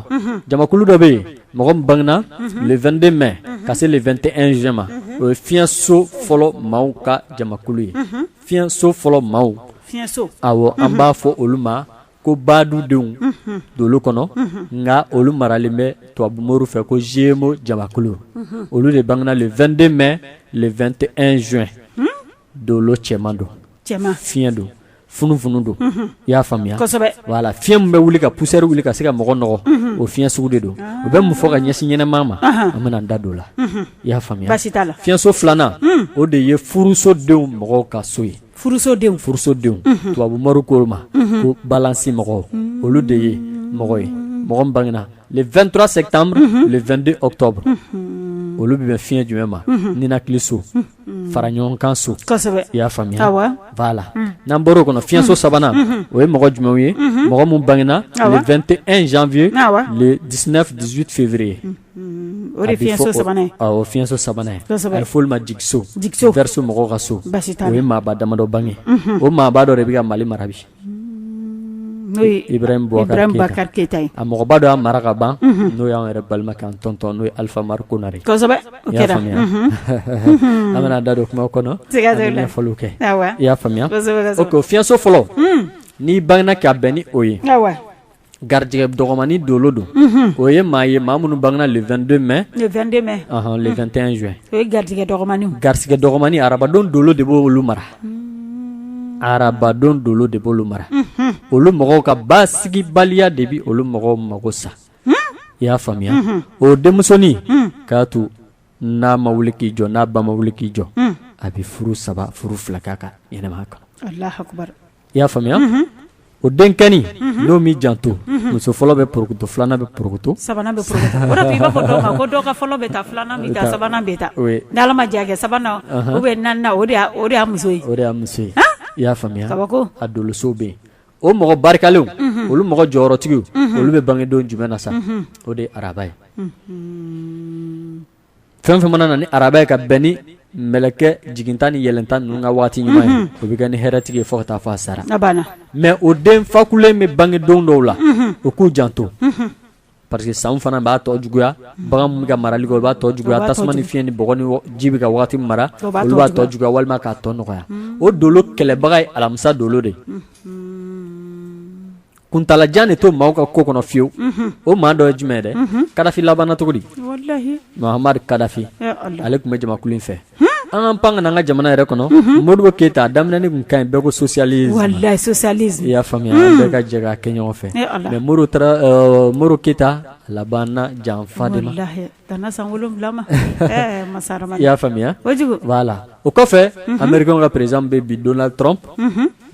jamakulu dɔ bɛ yen mɔgɔ min bangena le 22 mai ka se le 21 juin ma o ye fiɲɛso fɔlɔ maaw ka jamakulu ye fiɲɛso fɔlɔ maaw awɔ an b'a fɔ olu ma ko baadudenw dolow kɔnɔ nka olu maralen bɛ tubabumoriw fɛ ko Gémeaux jamakulu olu de bangena le 22 mai le 21 juin dolo cɛman don fiɲɛ don funufunu don i y'a faamuya voilà fiɲɛ min bɛ wuli ka poussière wuli ka se ka mɔgɔ nɔgɔ o fiɲɛ sugu de don o bɛ mun fɔ ka ɲɛsin ɲɛnama ma an bɛna da don o la i y'a faamuya fiɲɛso filanan o de ye furusodenw mɔgɔw ka so ye furusodenw tubabu moriw ko o ma ko balansi mɔgɔw olu de ye mɔgɔ ye mɔgɔ min bangena le 23 septembre le 22 octobre olu bɛ bɛn fiɲɛ jumɛn ma ninakili so fara ɲɔgɔn kan so i y'a faamuya voilà n'an bɔra o kɔnɔ fiɲɛso sabanan o ye mɔgɔ jumɛnw ye mɔgɔ minnu bangena le 21 janvier le 19 18 février o fiɲɛso sabanan ye a bɛ fɔ olu ma jigiso verseau mɔgɔw ka so o ye maaba damadɔ bange o maaba dɔ de bɛ ka mali mara bi N'o ye ibrahim boubacar keyita ye a mɔgɔba dɔ y'a mara ka ban n'o y'an yɛrɛ balimakɛ an tɔntɔn n'o ye alpha oumar konare faamuya an bɛna da don kuma kɔnɔ an bɛ ɲɛfɔliw kɛ i y'a faamuya ok o fiɲɛso fɔlɔ n'i bangena ka bɛn ni o ye garijɛgɛ dɔgɔmani dolo don o ye maa ye maa minnu bangena le 22 mai le 21 juin garijɛgɛ dɔgɔmani arabadon dolo de b'olu mara arabadon dolo de b'olu mara olu mɔgɔw ka basigibaliya de bɛ olu mɔgɔw mago sa i y'a faamuya o denmusonin k'a to n'a ma wuli k'i jɔ n'a ba ma wuli k'i jɔ a bɛ furu saba furu fila k'a ka ɲɛnamaya kɔnɔ i y'a faamuya o denkin n'o min janto muso fɔlɔ bɛ ptu filanan bɛ ptu sabanan bɛ bɛjɛ sabanan o bɛ na o de muso muso i y'a faamuya kaba a donso bɛ yen o mɔgɔ barikalen olu mɔgɔ jɔyɔrɔtigi olu bɛ bangedon jumɛn na sa o de ye araba ye fɛn fɛn mana na ni araba ye ka bɛn ni mɛlɛkɛ jiginta ni yɛlɛnta ninnu ka waati ɲuman ye o bɛ kɛ ni hɛrɛtigi ye fo ka taa fɔ a sara mais o den fakulen bɛ bange don dɔw la o k'u janto parce que sanw fana b'a tɔ juguya bagan min bɛ ka marali kɛ o b'a tɔ juguya tasuma ni fiɲɛ ni bɔgɔ ni ji bɛ ka waati min mara olu b'a tɔ juguya walima k'a tɔ nɔgɔya o dolo kɛlɛbaga ye alamisa dolo de kuntaala jan de to maaw ka ko kɔnɔ fiyewu o maa dɔ ye jumɛn ye dɛ kadafi labanna cogo di mohamed kadafi ale tun bɛ jamakulu in fɛ an ka pan ka na an ka jamana yɛrɛ kɔnɔ modibo keyita a daminɛni tun ka ɲi bɛɛ ko socialisme i y'a faamuya an bɛɛ ka jɛ ka kɛ ɲɔgɔn fɛ mais modibo keyita a labanna janfa de ma i y'a faamuya voilà o kɔfɛ américain ka président bɛ bi donald trump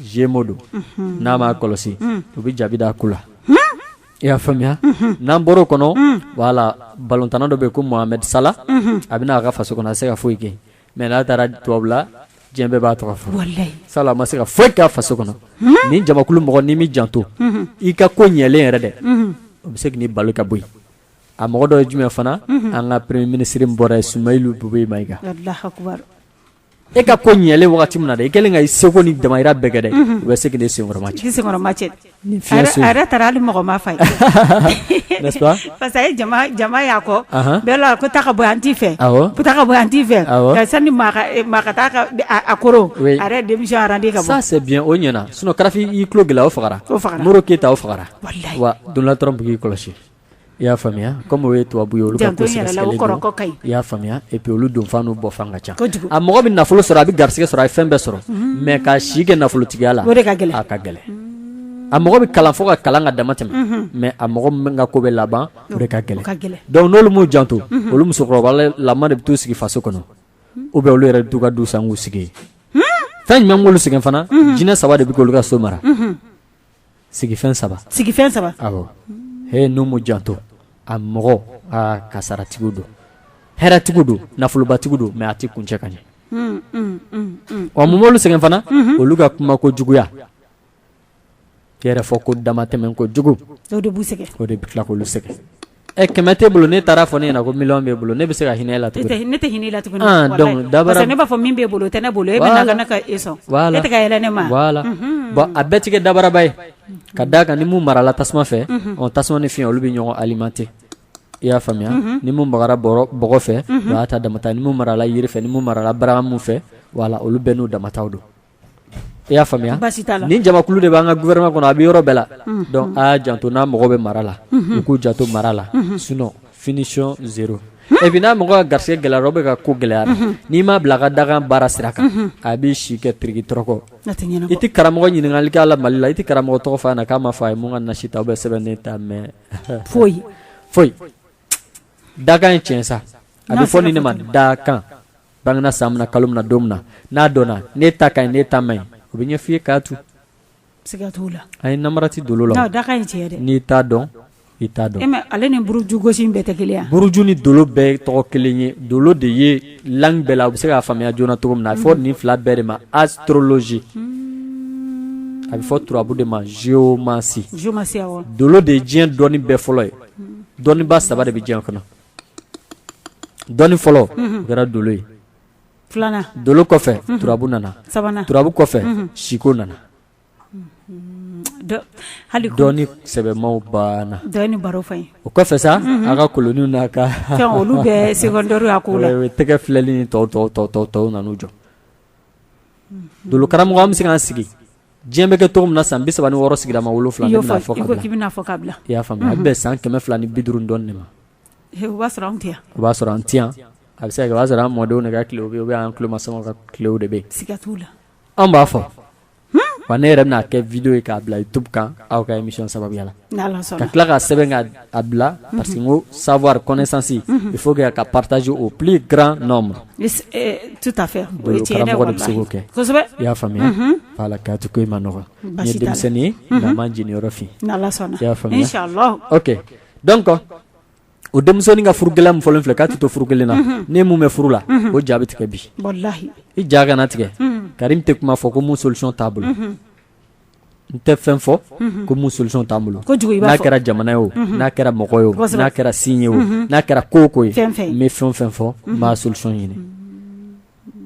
gémeaux don n'a m'a kɔlɔsi u bɛ jaabi da a ku la i y'a faamuya n'an bɔra o kɔnɔ voilà balontanna dɔ bɛ yen ko Mohamed Salah a bɛ na a ka faso kɔnɔ a se ka foyi kɛ mais n'a taara tubabu la diɲɛ bɛɛ b'a tɔgɔ fɔ Salah ma se ka foyi ka faso kɔnɔ ni jamakulu mɔgɔ n'i m'i janto i ka ko ɲɛlen yɛrɛ dɛ o bɛ se k'i balo ka bɔ yen a mɔgɔ dɔ ye jumɛn fana an ka premier ministre min bɔra ye Soumeylou Boubèye Maïga E ka ko ɲɛlen wagati min na dɛ i kɛlen ka i seko ni damayira bɛɛ kɛ dɛ unhun u bɛ se k'i n'i senkɔrɔ macɛ k'i senkɔrɔ macɛ ni fiɲɛ se a yɛrɛ a yɛrɛ taara hali mɔgɔ ma f'a ye n'est-ce pas parce que a ye jama jama y'a kɔn anhan bɛɛ la ko taa ka bɔ yan n t'i fɛ awɔ ko taa ka bɔ yan n t'i fɛ awɔ ka sani maa ka e maa ka taa ka d a a koron oui a yɛrɛ ye démission arandi ka bɔ ça c'est bien o ɲɛna sinon Kadafi y'i tulo gɛlɛya o fagara o fagara Modibo Keita o fagara walahi wa Donald Trump k'i kɔlɔsi I y'a faamuya comme o ye tubabu ye olu ka ko sɛgɛsɛgɛlen don, janto i yɛrɛ la o kɔrɔkɔ ka ɲi, i y'a faamuya et puis olu donfan n'u bɔfan ka ca, kojugu, a mɔgɔ bɛ nafolo sɔrɔ a bɛ garisigɛ sɔrɔ a ye fɛn bɛɛ sɔrɔ mais ka si kɛ nafolotigiya la o de ka gɛlɛn, a ka gɛlɛn a mɔgɔ bɛ kalan fo ka kalan ka dama tɛmɛ mais a mɔgɔ min ka ko bɛ laban o de ka gɛlɛn, o ka gɛlɛn, donc n'olu m'u janto olu musokɔrɔba lama de bɛ t'u sigi faso kɔnɔ ou bien olu yɛrɛ bɛ t'u ka du san k'u sigi yen fɛn jumɛn b'olu sɛgɛn fana jinɛ saba de bɛ k'olu ka so mara sigifɛn saba sigifɛn saba awɔ he n'u m'u janto a mɔgɔ aa kasaratigiw don hɛrɛtigiw don nafolobatigiw don mais a tɛ kuncɛ ka ɲɛ wa mun b'olu sɛgɛn fana olu ka kuma ko juguya yɛrɛ fɔ ko damatɛmɛ ko jugu o de b'u sɛgɛn o de bɛ tila k'olu sɛgɛn Ɛ kɛmɛ t'e bolo ne taara fɔ ne ɲɛna ko miliyɔn b'e bolo ne bɛ se ka hinɛ e la ne tɛ hinɛ e la da ne b'a fɔ min b'e bolo o tɛ ne bolo e bɛ ne ka e sɔn ne tɛ yɛlɛ ne ma bon a bɛɛ tigɛ dabaraba ye ka d'a kan ni min marala tasuma fɛ o tasuma ni fiɲɛ olu bɛ ɲɔgɔn alimenter i y'a faamuya ni min bagara bɔgɔ fɛ o y'a ta damata ni min marala yiri fɛ ni min marala bara min fɛ voilà olu bɛɛ n'u damataw don i y'a faamuya ni jamakulu de b'an ka gouvernement kɔnɔ a bɛ yɔrɔ bɛɛ la donc aa janto n'a mɔgɔ bɛ mara la u k'u janto mara la sinon finition zéro et puis n'a mɔgɔ ka garisɛgɛ gɛlɛyara bɛɛ ka ko gɛlɛyara n'i m'a bila a ka dakan baara sira kan a b'i si kɛ tiriki tɔrɔkɔ i tɛ karamɔgɔ ɲininka a la Mali la i tɛ karamɔgɔ tɔgɔ f'a ɲɛna k'a ma fɔ a ye mun ka nasi ta ou bien sɛbɛnnen ta mais foyi foyi dakan ye tiɲɛ sa a bɛ fɔ nin ne ma dakan bangena san min na kalo min na don min na n'a dɔnna ne ta ka ɲi ne ta man ɲi o bɛ ɲɛ f'i ye k'a tu siga t'o la a ye namara ti dolo la dakan ye tiɲɛ dɛ n'i t'a dɔn i t'a dɔn mais ale ni buruju gosi bɛɛ tɛ kelen buruju ni dolo bɛɛ tɔgɔ kelen ye dolo de ye langue bɛɛ la u bɛ se k'a faamuya joona cogo min na a bɛ fɔ nin fila bɛɛ de ma astrologie hmm. a bɛ fɔ turabu de ma géomancie géomancie awɔ dolo de ye diɲɛ dɔnni bɛɛ fɔlɔ ye hmm. dɔnniba saba de bɛ diɲɛ kɔnɔ Dɔnni fɔlɔ o kɛra dolo ye filanan dolo kɔfɛ turabu nana sabanan turabu kɔfɛ siko nana dɔnni sɛbɛmaw banna dɔnni baro fɔ o kɔfɛ sa a ka koloninw n'a ka fɛn olu bɛɛ secondaire a ko tɛgɛ filɛli ni tɔw tɔw tɔw tɔw tɔw nana u jɔ dolo karamɔgɔ an bɛ se k'an sigi diɲɛ bɛ kɛ cogo min na san bi saba ni wɔɔrɔ sigiyɔrɔma wolonwula a bɛ bɛn san kɛmɛ fila ni bi duuru dɔɔnin de ma o b'a sɔrɔ an tɛ yan a bɛ se ka kɛ o b'a sɔrɔ an mɔdenw de ka tilew bɛ yen ou bien an tulomasamaw ka tilew de bɛ yen siga t'a la an b'a fɔ wa ne yɛrɛ bɛna a kɛ vidéo ye k'a bila YouTube kan aw ka émission sababuya la ka tila ka sɛbɛn a bila parce que n ko savoir connaissance il faut k'a partager au plus grand nombre tout à fait i y'a faamuya k'a to ko i ma nɔgɔ n ye denmisɛnnin ye nka ma jeniyɔrɔ fin i y'a faamuya donc o denmisɛnnin ka furu gɛlɛya min fɔlen filɛ k'a tɛ to furu kelen na ni min bɛ furu la o ja bɛ tigɛ bi i ja kana tigɛ Karim tɛ kuma fɔ ko min solution t'a bolo N tɛ fɛn fɔ ko min solution t'an bolo n'a kɛra jamana ye o n'a kɛra mɔgɔ ye o n'a kɛra signe ye o n'a kɛra ko o ko ye n bɛ fɛn o fɛn fɔ n b'a solution ɲini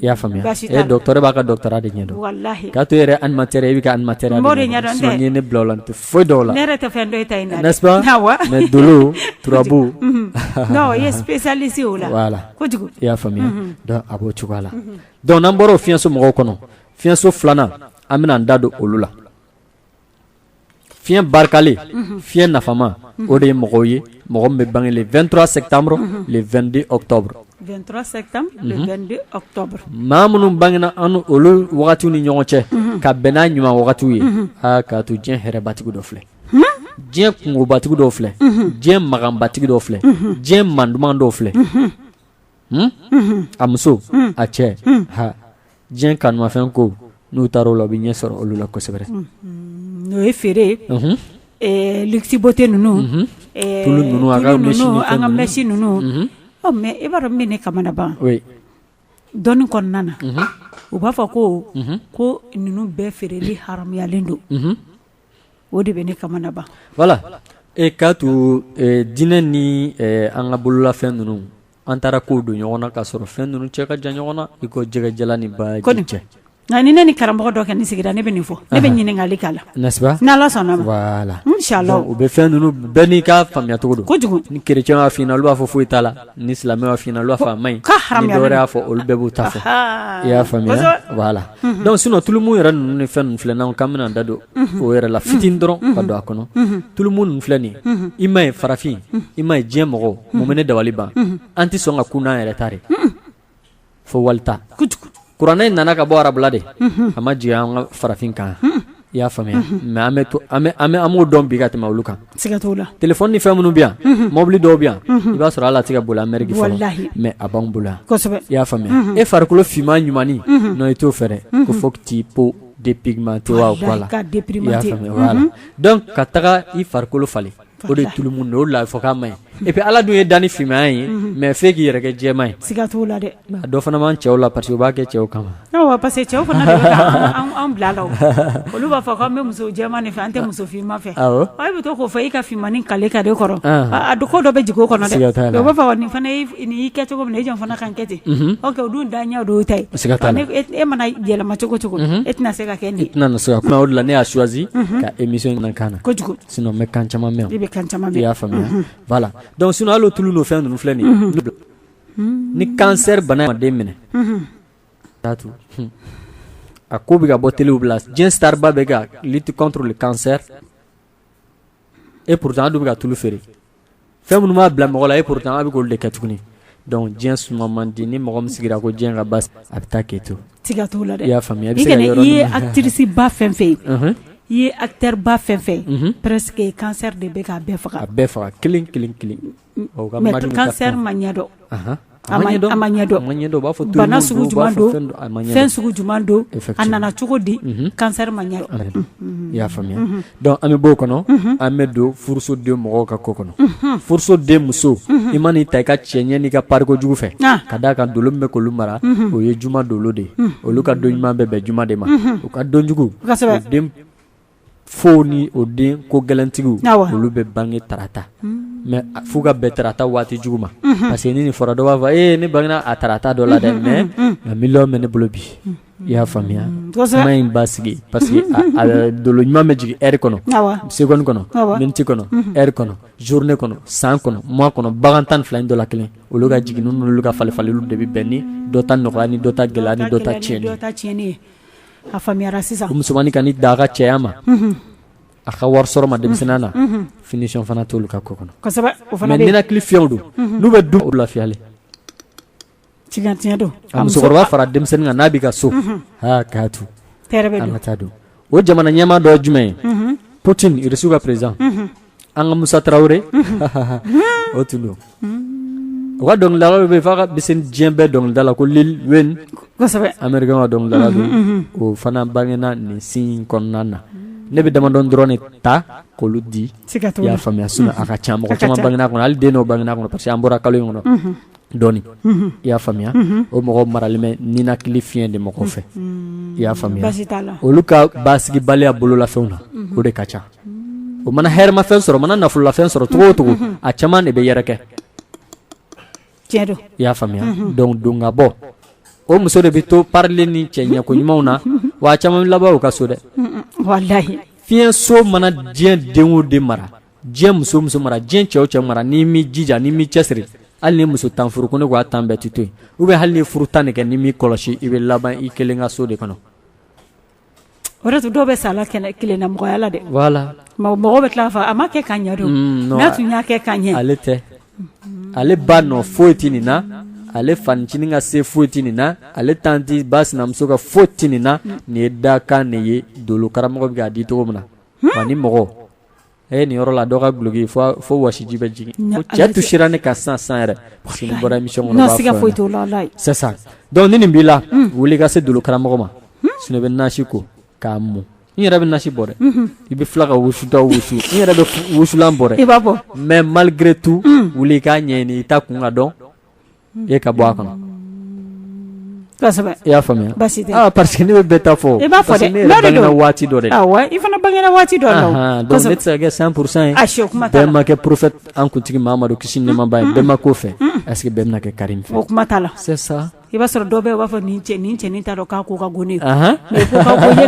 i y'a faamuya docteur b'a ka doctorat de ɲɛdɔn k'a to yɛrɛ animateur i b'i ka animateur de ɲɛdɔn sinon ni ne bila o la n tɛ foyi dɔn o la dolo turabu i y'a faamuya a b'o cogoya la donc n'an bɔra o fiɲɛso mɔgɔw kɔnɔ fiɲɛso filanan an bɛna an da don olu la fiɲɛ barikalen fiɲɛ nafama o de ye mɔgɔw ye mɔgɔ min bɛ bange le 23 septembre le 22 octobre 23 septembre le 22 octobre maa minnu bangena an olu wagatiw ni ɲɔgɔn cɛ ka bɛn n'a ɲuman wagatiw ye aa k'a to diɲɛ hɛrɛbatigi dɔ filɛ diɲɛ kunkobatigi dɔw filɛ diɲɛ maganbatigi dɔw filɛ diɲɛ manduman dɔw filɛ Hmm? a muso hmm. a cɛ hmm. ha diɲɛ kanumafɛn ko n'u taara o la u bɛ ɲɛ sɔrɔ olu la kosɛbɛ n'o ye feere luxe beauté ninnu ninnu an ka mɛsi ninnu mais i b'a dɔn min bɛ ne kamanagan dɔnni kɔnɔna na u b'a fɔ ko ko ninnu bɛɛ feereli haramuyalen don o de bɛ ne kamanagan voilà k'a to diinɛ ni an ka bololafɛn ninnu an taara kow don ɲɔgɔn na k'a sɔrɔ fɛn ninnu cɛ ka jan ɲɔgɔn na i ko jɛgɛjalan ni baji cɛ nka ni ne ni karamɔgɔ dɔ kɔni sigira ne bɛ nin fɔ ne bɛ ɲininkali k'a la n'est-ce pas ni Ala sɔnna voilà u bɛ fɛn ninnu bɛɛ n'i ka faamuyacogo don kojugu ni kerecɛnw fana olu b'a fɔ foyi t'a la ni silamɛ b'a f'i ɲɛna olu b'a fɔ a man ɲi ni dɔ wɛrɛ y'a fɔ olu bɛɛ b'u ta fɔ i y'a faamuya voilà donc sinon tulumu yɛrɛ ninnu ni fɛn ninnu filɛ n'an k'an bɛna da don o yɛrɛ la fitini dɔrɔn ka don a kɔnɔ tulumu ninnu filɛ nin i ma ye farafin i ma ye diɲɛ mɔgɔ mun ne dabali ban an tɛ sɔn ka kun n'an yɛrɛ ta de fo walita kuranɛ in nana ka bɔ arabula de a ma jigin an ka farafin kan i y'a faamuya mais an an b'o dɔn bi ka tɛmɛ olu kan téléphone ni fɛn minnu bɛ yan mɔbili dɔw bɛ yan i b'a sɔrɔ hali a tɛ ka boli Amérique mais a b'an bolo yan i y'a faamuya e farikolo finman ɲumannin non i t'o fɛ dɛ ko fo t'i peau dépigmenté wa quoi donc ka taga i farikolo falen o de tulumu de o de la fɔ k'a man ɲi et puis ala dun ye danni finmaya ye mais f'e k'i yɛrɛ kɛ jɛman ye siga t'o la dɛ dɔ fana b'an cɛw la parce que u b'a kɛ cɛw kama parce que cɛw fana bɛ an bila la olu b'a fɔ an bɛ muso jɛman de fɛ an tɛ muso finman fɛ a bɛ to k'o fɔ i ka finmannin kale ka de kɔrɔ a ko dɔ bɛ jigin o kɔnɔ dɛ o b'a fɔ nin fana y'i kɛ cogo min e jɔn fana kan kɛ ten o dun daɲɛ de y'o ta ye e mana yɛlɛma cogo cogo e tɛna se ka kɛ nin ye o de la ne y'a choisi ka émission in kan na kojugu Sinon n bɛ kan caman mɛn, i bɛ kan caman mɛn, i y'a faamuya voila donc sinon hali o tulu n'o fɛn ninnu filɛ nin ye ni kansɛri bana ye mɔgɔ minɛ a ko bɛ ka bɔ telew bɛɛ la diɲɛ star ba bɛ ka lutte contre le cancer et pourtant a dun bɛ ka tulu feere fɛn minnu b'a bila mɔgɔ la et pourtant a bɛ k'olu de kɛ tuguni donc diɲɛ suma man di ni mɔgɔ min sigira ko diɲɛ ka basi a bɛ taa k'i to siga t'o la dɛ i y'a faamuya i bɛ se k'a sɔrɔ i ye actrice ba fɛn fɛn ye i ye acteur ba fɛn fɛn ye presque cancer de bɛ k'a bɛɛ faga a bɛɛ faga kelen kelen kelen mais cancer ma ɲɛdɔn. A ma ɲɛdɔn, a ma ɲɛdɔn, a ma ɲɛdɔn, u b'a fɔ tulu min don, bana sugu jumɛn don, a ma ɲɛdɔn, fɛn sugu jumɛn don, effectivement a nana cogo di, unhun, cancer ma ɲɛdɔn, unhun, i y'a faamuya, unhun, donc an bɛ b'o kɔnɔ, unhun, an bɛ don furusoden mɔgɔw ka ko kɔnɔ, unhun, furusoden muso, unhun, i man'i ta i ka cɛɲɛ n'i ka pariko jugu fɛ, an, ka d'a kan dolo min bɛ k'olu mara, unhun, o ye juma dolo de ye, unhun, olu ka don ɲuman bɛ bɛn juma de ma, unhun, u ka don jugu, kosɛbɛ, o den fo ni o den ko gɛlɛntigiw olu bɛ bange tarata mais f'u ka bɛn tarata waati jugu ma parce que ni nin fɔra dɔ b'a fɔ e ne bangena tarata dɔ la dɛ mais nka miliyɔn bɛ ne bolo bi i y'a faamuya kuma in b'a sigi parce que dolo ɲuman bɛ jigin heure kɔnɔ seconde kɔnɔ minute kɔnɔ heure kɔnɔ journée kɔnɔ san kɔnɔ mois kɔnɔ bagan tan ni fila in dɔ la kelen olu ka jigin n'olu ka falen falenli de bɛ bɛn ni dɔ ta nɔgɔya ni dɔ ta gɛlɛya ni dɔ ta tiɲɛn a faamuyara sisan musomannin kan'i da a ka cɛya ma a ka wari sɔrɔ ma denmisɛnniya na finition fana t'olu ka ko kɔnɔ ninakili fiɲɛw don n'u bɛ du lafiyalen musokɔrɔba fara denmisɛnnin kan n'a b'i ka so an ka taa don o jamana ɲɛmaa dɔ jumɛn ye Poutine irisiw ka président an ka Musa Tarawele, unhun, o tun don, u ka dɔnkilidalaw bɛ yen f'a kan bɛ se diɲɛ bɛɛ dɔnkilidala ko Lil Wayne, kosɛbɛ, Americain ka dɔnkilidala don, unhun, unhun, o fana bangena nin signe kɔnɔna na, ne bɛ damadɔni dɔrɔn de ta k'olu di, siga t'o la, i y'a faamuya sinon a ka ca, mɔgɔ caman bangena a kɔnɔ hali den dɔw bangena a kɔnɔ parce que an bɔra kalo in kɔnɔ, unhun, dɔɔnin, unhun, i y'a faamuya, unhun, o mɔgɔw maralen bɛ ninakili fiɲɛ de mɔgɔ fɛ, unhun, i y'a faamuya, baasi t'a la, olu ka basigibaliya bololafɛnw na o de ka ca o mana hɛrɛmafɛn sɔrɔ mana nafololafɛn sɔrɔ cogo o cogo a caman de bɛ yɛrɛkɛ i y'a faamuya donc don ka bɔ o muso de bɛ to palen ni cɛ ɲɛko ɲumanw na wa a caman laban u ka so dɛ fiɲɛso mana diɲɛ den o den mara diɲɛ muso o muso mara diɲɛ cɛ o cɛ mara n'i m'i jija n'i m'i cɛsiri hali ni muso tan furu ko ne ko a tan bɛɛ tɛ to yen ou bien hali ni furu tan de kɛ n'i m'i kɔlɔsi i bɛ laban i kelen ka so de kɔnɔ O de y'a to dɔw bɛ sa la kelennamɔgɔya la dɛ mɔgɔ bɛ tila k'a fɔ a ma kɛ ka ɲɛ donc n'a tun y'a kɛ ka ɲɛ ale tɛ ale ba nɔ foyi ti nin na ale fanincinin ka se foyi ti nin na ale tanti ba sinamuso ka foyi ti nin na nin ye dakan de ye dolokaramɔgɔ bɛ k'a di cogo min na ani mɔgɔ Ɛ nin yɔrɔ la dɔ ka duloki fo wasiji bɛ jigin cɛ tu sera ne ka san san yɛrɛ parce que ne bɔra émission donc ni nin b'i la wuli ka se dolokaramɔgɔ ma sinon i bɛ nasi ko k'a mun n yɛrɛ bɛ nasi bɔ dɛ i bɛ tila ka wusuta wusu n yɛrɛ bɛ wusulan bɔ dɛ i b'a fɔ mais malgré tout wuli k'a ɲɛɲini i ta kun k'a dɔn e ka bɔ a kɔnɔ i y'a faamuya parceseke ne bɛ taa fɔ waati dɔ i fana bange waati dɔ san kurusan yemakɛ porofɛ an kuntigi mamadu kisi nɛmaba ye bɛnma ko fɛ ɛseke bɛn kɛ kari o kuma t'a la i b'a sɔrɔ dɔw bɛ b'a fɔ ni cɛ ni cɛn ta dɔn k'a ko ka gnen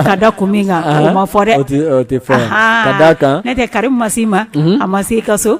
ka da kun min kan ma fɔ dɛ ka kan ne tɛ kari ma ma a ma se i ka so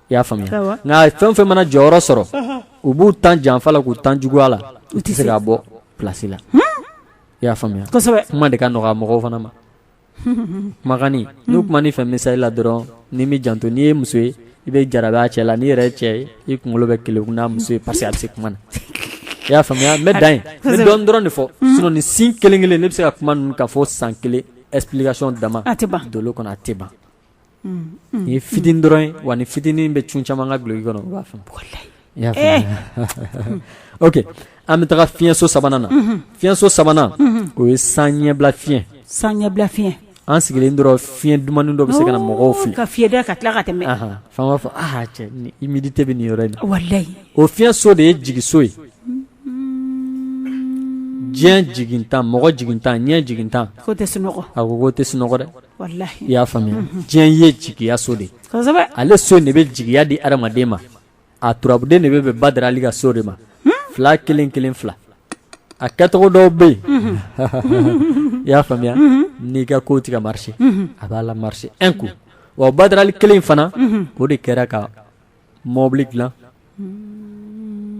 i y'a faamuya nka fɛn o fɛn mana jɔyɔrɔ sɔrɔ u b'u tan janfa la k'u tan juguya la u tɛ se k'a bɔ plasi la i y'a faamuya kuma de ka nɔgɔ a mɔgɔw fana ma kuma ka ɲi n'u kumana i fɛ misali la dɔrɔn n'i m'i janto n'i ye muso ye i bɛ jarabi a cɛ la n'i yɛrɛ ye cɛ ye i kunkolo bɛ keleku n'a muso ye parce que a bɛ se kuma na i y'a faamuya n bɛ dan yen n bɛ dɔɔnin dɔrɔn de fɔ sinon nin signe kelen kelen ne bɛ se ka kuma ninnu kan fo san kelen explication dama a tɛ ban dolo kɔnɔ a tɛ ban ye fitinin dɔrɔn ye wa nin fitinin bɛ cun caman ka duloki kɔnɔ b'a fɔ oke an bɛ taga fiɲɛso sabanan na fiɲɛso sabanan o ye san ɲɛbila fiɲɛ san ɲɛbila fiɲɛ an sigilen dɔrɔn fiɲɛ dumannin dɔ bɛ se ka na mɔgɔw fɛ ka fiyɛ ka tila ka tɛmɛ f'an b'a fɔ cɛ humidité bɛ nin yɔrɔ in na o fiɲɛso de ye jigiso ye diɲɛ jigintan mɔgɔ jigintan ɲɛ jigintan tɛ a ko tɛ sunɔgɔ dɛ i y'a faamuya diɲɛ ye jigiya so de ale so de bɛ jigiya di adamaden ma a turabuden de bɛ bɛn badara ali ka so de ma fila kelen kelen fila a kɛcogo dɔw bɛ yen i y'a faamuya n'i ka ko tɛ ka marché a b'a la marché un coup wa badara ali kelen fana o de kɛra ka mɔbili dilan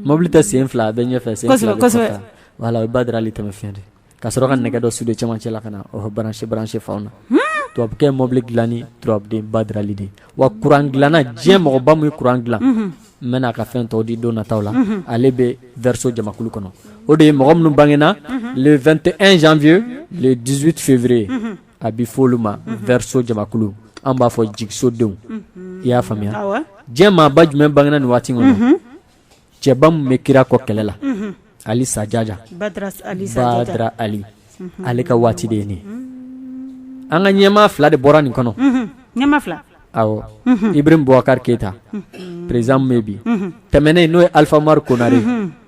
mɔbili tɛ sen fila a bɛ ɲɛfɛ sen fila bɛ kɔfɛ kosɛbɛ voilà o ye badara ali tɛmɛ fiɲɛ de ka sɔrɔ ka nɛgɛ dɔ sude cɛmancɛ la ka na o branché fanw na tubabukɛ ye mɔbili dilanni turabuden badara ali de ye wa kuran dilanna diɲɛ mɔgɔba min ye kuran dilan n bɛna a ka fɛn tɔw di don nataw la ale bɛ verseau jamakulu kɔnɔ o de ye mɔgɔ minnu bangena le 21 janvier le 18 février A bɛ fɔ olu ma verseau jamakulu an b'a fɔ jigisodenw i y'a faamuya diɲɛ maaba jumɛn bangena nin waati kɔnɔ cɛba min bɛ kira kɔ kɛlɛ la ali sajaja badara ali ale ka waati de ye nin an ka ɲɛmaa fila de bɔra nin kɔnɔ ibrahim boubacar keita président min bɛ bi tɛmɛnen n'o ye alpha oumar konaré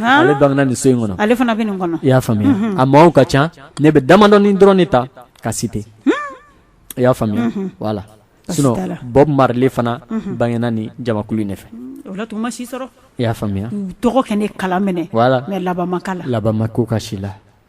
ale bangena ni so in kɔnɔ ale fana bɛ nin kɔnɔ i y'a faamuya a maaw ka ca ne bɛ damadɔnin dɔrɔn de ta ka citer i y'a faamuya voilà sinon bob marley fana bangena ni jamakulu in de fɛ o la tun ma si sɔrɔ i y'a faamuya tɔgɔ kɛ ne kala minɛ voilà mais labanma kala labanma ko ka si la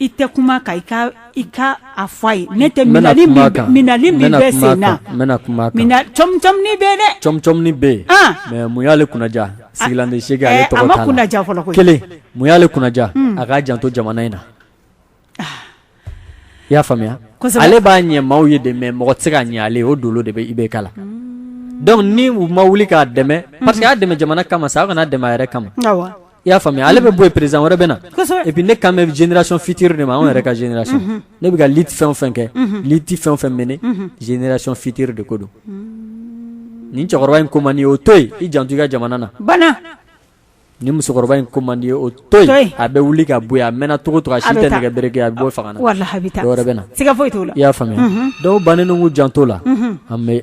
I tɛ kuma kan i ka i ka a fɔ a ye ne tɛ bɛ na kuma a kan n bɛna kuma a kan bɛ bɛ yen mais mun y'ale kunnaja sigilan se kelen mun y'ale kunnaja a k'a janto jamana in na i y'a faamuya ale b'a ɲɛ maaw ye de mais mɔgɔ tɛ se ka ɲɛ ale o dolo de bɛ IBK la donc ni u ma wuli k'a dɛmɛ parce que a y'a dɛmɛ jamana kama sa aw kana dɛmɛ a yɛrɛ kama i y'a faamuya ale bɛ bɔ yen président wɛrɛ bɛ na, kosɛbɛ, et puis ne kan bɛ génération future de ma anw yɛrɛ ka génération ne bɛ ka lutte fɛn o fɛn kɛ lutte fɛn o fɛn mener génération future de ko don, nin cɛkɔrɔba in ko man di ye o to yen i janto i ka jamana na, banna, nin musokɔrɔba in ko man di ye o to yen a bɛ wuli ka bɔ yen a mɛnna cogo o cogo a si tɛ nɛgɛ bere kɛ a bɛ bɔ fanga na, walahi a bɛ taa, dɔwɛrɛ bɛ na, siga foyi t'o la, i y'a faamuya donc o bannen don k'u janto o la, unhun, an bɛ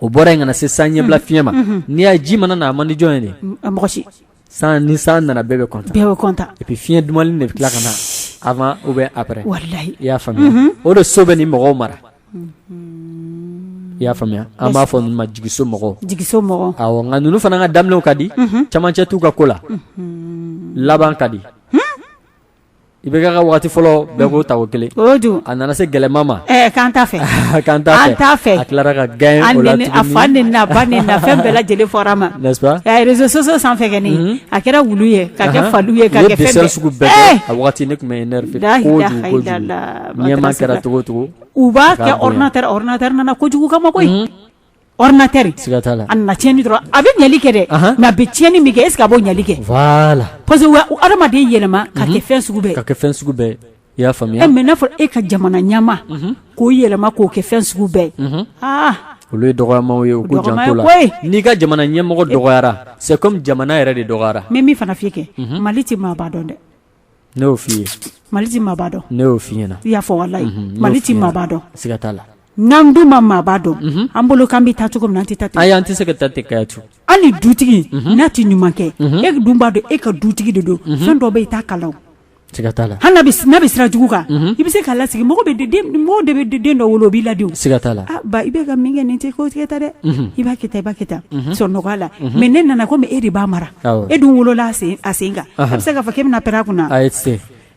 o bɔra yen ka na se san ɲɛbila fiɲɛ ma n'i y'a ji mana na a man di jɔn ye mɔgɔ si ni san nana bɛɛ bɛ content et puis fiɲɛ dumanli de bɛ tila ka na avant ou bien après i y'a faamuya o de so bɛ ni mɔgɔw mara i y'a faamuya an b'a fɔ ninnu ma jigiso mɔgɔw nka ninnu fana ka daminɛw ka di camancɛ t'u ka ko la laban ka di I bɛ kɛ ka waati fɔlɔ bɛɛ k'o ta o kelen a nana se gɛlɛya ma k'an t'a fɛ k'an t'a fɛ a tilara ka gagner a fa ni na ba ni na fɛn bɛɛ lajɛlen fɔra ma n'est-ce pas réseaux sociaux sanfɛ a kɛra wulu ye ka kɛ fali ye ka kɛ fɛn sugu bɛɛ a waati ne tun bɛ énervé ɲɛmaa kɛra cogo cogo u b'a kɛ ordinateur ordinateur nana kojugu kama koyi Ordinateur siga t'a la a nana tiɲɛni dɔrɔn a bɛ ɲɛli kɛ dɛ mais a bɛ tiɲɛni min kɛ est-ce que a b'o ɲɛli kɛ voilà parce que hadamaden yɛlɛma ka kɛ fɛn sugu bɛɛ ka kɛ fɛn sugu bɛɛ i y'a faamuya mais n'a fɔra e ka jamana ɲɛmaa k'o yɛlɛma k'o kɛ fɛn sugu bɛɛ aa olu ye dɔgɔyama ye ko n'i ka jamana ɲɛmɔgɔ dɔgɔyara c'est comme jamana yɛrɛ de dɔgɔyara mais min fana f'i ye kɛ Mali tɛ maaba dɔn dɛ ne y'o f'i ye Mali tɛ maaba dɔn, ne y'o f'i ɲɛna, i y'a fɔ walahi, unhun, Mali tɛ maaba dɔn, siga t'a la, n'an dun ma maaba dɔn, unhun, an bolo k'an bɛ taa cogo min na an tɛ taa ten, ayi an tɛ se ka taa ten Kayatu, hali dutigi n'a tɛ ɲuman kɛ, unhun, e dun b'a dɔn e ka dutigi de don, unhun, fɛn dɔ bɛ yen i t'a k'a la wo, siga t'a la, hali n'a bɛ n'a bɛ sira jugu kan, unhun, i bɛ se k'a lasigi mɔgɔ bɛ den mɔgɔ de bɛ den dɔ wolo o b'i ladi o, siga t'a la, a ba i bɛ ka min kɛ nin tɛ ko ye tan dɛ, unhun, i b'a kɛ tan i b'a kɛ tan, unhun, sɔn nɔgɔya la, unhun, mais n'e nana komi e de b'a mara e dun wolola a sen kan e bɛ se k'a fɔ k'e bɛna pɛrɛn a kun na ayi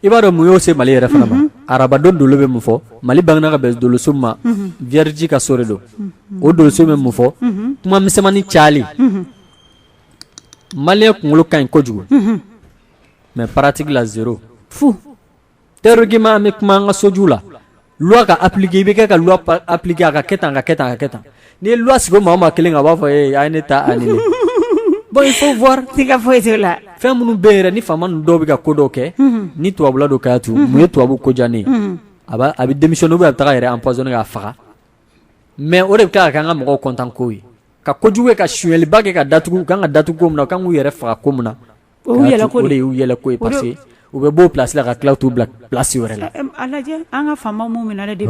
i b'a dɔn mun y'o se Mali yɛrɛ fana ma arabadon dolo bɛ mun fɔ Mali bangena ka bɛn doloso ma vierge ka so de don o doloso bɛ mun fɔ kuma misɛnmannin cayali Maliyɛn kunkolo ka ɲi kojugu mais pratique la zéro fu théoriquement an bɛ kuma an ka soju la loi ka appliquer i bɛ kɛ ka loi appliquer a ka kɛ tan a ka kɛ tan a ka kɛ tan n'i ye loi sigi o maa o maa kelen kan a b'a fɔ ee a ye ne ta annuler bon il faut voir siga foyi t'o la fɛn minnu bɛ yen yɛrɛ ni faama ninnu dɔw bɛ ka ko dɔw kɛ ni tubabula don k'a tu mun ye tubabu ko diya ne ye a b'a a bɛ démissionner ou bien a bɛ taga a yɛrɛ empoisonner k'a faga mais o de bɛ tila ka kɛ an ka mɔgɔw content ko ye ka kojugu kɛ ka sonyɛliba kɛ ka datugu u kan ka datugu ko min na u kan k'u yɛrɛ faga ko min na u bɛ bɔ plasila ka tila tu bila plasi wɛrɛ la an ka fa minnu min na de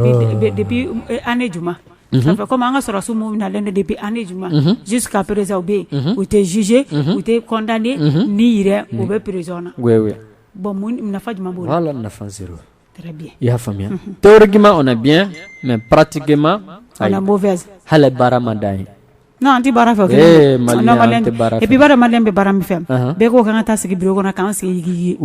an ne juma kɔmi an ka sɔrɔ so minnu na de bɛ an ne juma ji ka perez u bɛ yen u tɛ zze u tɛ kɔntan ni yɛrɛ u bɛ perezɔn na bɔn nafa jumɛn b' la nafa i y'a faamuya théoriquement on est bien mais pratiquement on est mauvaise hali baara ma d'an ye non an tɛ baara fɛ Maliyɛn bɛ baara min fɛ bɛɛ ko k'an ka taa sigi bureau kɔnɔ k'an sigi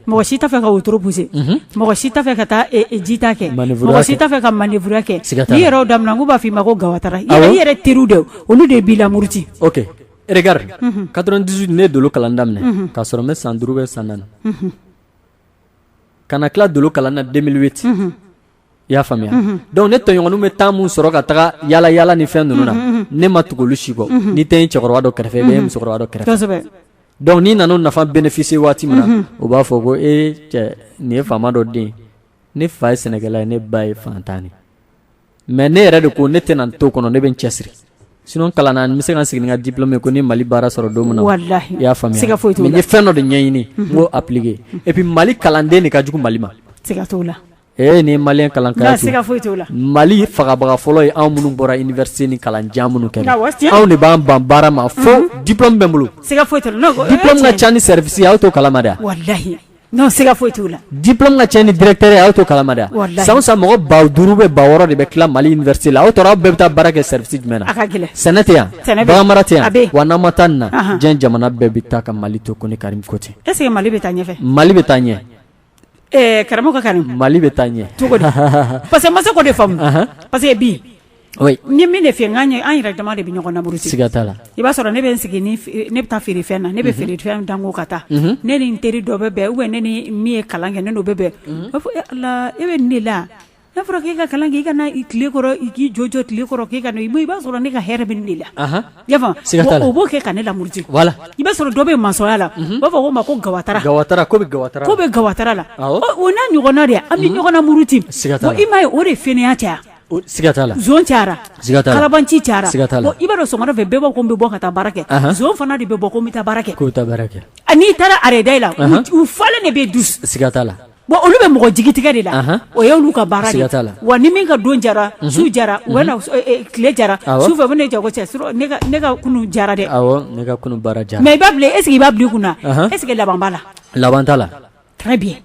mɔgɔ si t'a fɛ ka wotoro pousser mɔgɔ si t'a fɛ ka taa jita kɛ mɔgɔ si t'a fɛ ka manœuvre kɛ n'i yɛrɛ y'o daminɛ k'u b'a fɔ i ma ko gawatara i yɛrɛ teri de olu de b'i lamuruti ok regarde quatre-vingt-dix-huit ne ye dolo kalan daminɛ k'a sɔrɔ n bɛ san duuru bɛ san ka na tila dolo kalan na 2008 unhun i y'a faamuya unhun donc ne tɔɲɔgɔninw bɛ temps mun sɔrɔ ka taga yala yala ni fɛn ninnu na ne ma tugu olu si kɔ n'i tɛ n ye cɛkɔrɔba dɔ kɛrɛfɛ i bɛ n ye musokɔrɔba dɔ kɛrɛfɛ kosɛbɛ donc n'i nana o nafa bénéficier waati min na u b'a fɔ ko e cɛ nin ye faama dɔ den ne fa ye sɛnɛkɛla ye ne ba ye fantan de mais ne yɛrɛ de ko ne tɛna to kɔnɔ ne bɛ n cɛsiri sinon kalan na n bɛ se ka n sigi ni n ka diplôme ye ko ni mali baara sɔrɔ don min na walahi i y'a faamuya siga foyi t'o la mais n ye fɛn dɔ de ɲɛɲini n b'o appliquer et puis mali kalanden de ka jugu mali ma siga t'o la ee ni maliyɛn kalan kaya siga foyi t'o la mali fagabaga fɔlɔ ye anw minnu bɔra université ni kalan jan minnu kɛ anw de b'an ban baara ma fo diplôme bɛ n bolo siga foyi t'o la diplôme ka ca ni service ye aw t'o kalama de wa walahi Non siga foyi t'o la diplôme ka ca ni directeur ye aw t'o kalama dɛ san o san mɔgɔ ba duuru bɛ ba wɔɔrɔ de bɛ tila mali université la aw tora aw bɛɛ bɛ taa baara kɛ service jumɛn na sɛnɛ tɛ yan baganmara tɛ yan wa n'an ma taa nin na diɲɛ jamana bɛɛ bɛ taa ka mali to kɔni karimu ko ten est-ce que mali bɛ taa ɲɛfɛ mali bɛ taa ɲɛ karamɔgɔ karimu mali bɛ taa ɲɛ cogo di parce que n ma se k'o de faamu parce que bi ni min de fɛ n' an yɛrɛ dama de bɛ ɲɔgɔn namuruti siga t'a la i b'a sɔrɔ ne bɛ n sigi ne bɛ taa feere fɛn na ne bɛ feere fɛn da n kun ka taa ne ni n teri dɔ bɛ bɛn ou bien ne ni min ye kalan kɛ ne n'o bɛ bɛn b'a fɔ e ala e bɛ nin de la n'a fɔra k'i ka kalan kɛ i ka na tile kɔrɔ i k'i jɔjɔ tile kɔrɔ k'i ka i i b'a sɔrɔ ne ka hɛrɛ bɛ nin de la o b'o kɛ ka ne lamuruti i b'a sɔrɔ dɔ bɛ masɔnya la b'a fɔ o ma ko ga bɛ gata la o n'a ɲɔgɔnna de an bɛ ɲɔgɔn namuruti i m'a ye o de fainéant caya Cayara kalabanci cayara i b'a sɔrɔ sɔgɔmada fɛ bɛɛ bɛ bɔ ko n bɛ bɔ ka taa baara kɛ zon fana de bɛ bɔ ko n bɛ taa baara kɛ n'i taara arrêt la u falen de bɛ du siga t'a la wa olu bɛ mɔgɔ jigi tigɛ de la o ye olu ka baara ye siga t'a la wa ni min ka don diyara su diyara u tile diyara su fɛ ne ja cɛ ne ka kunu diyara dɛ mais i b'a bila est-ce que i b'a bila i kun na est-ce que laban b'a la laban t'a la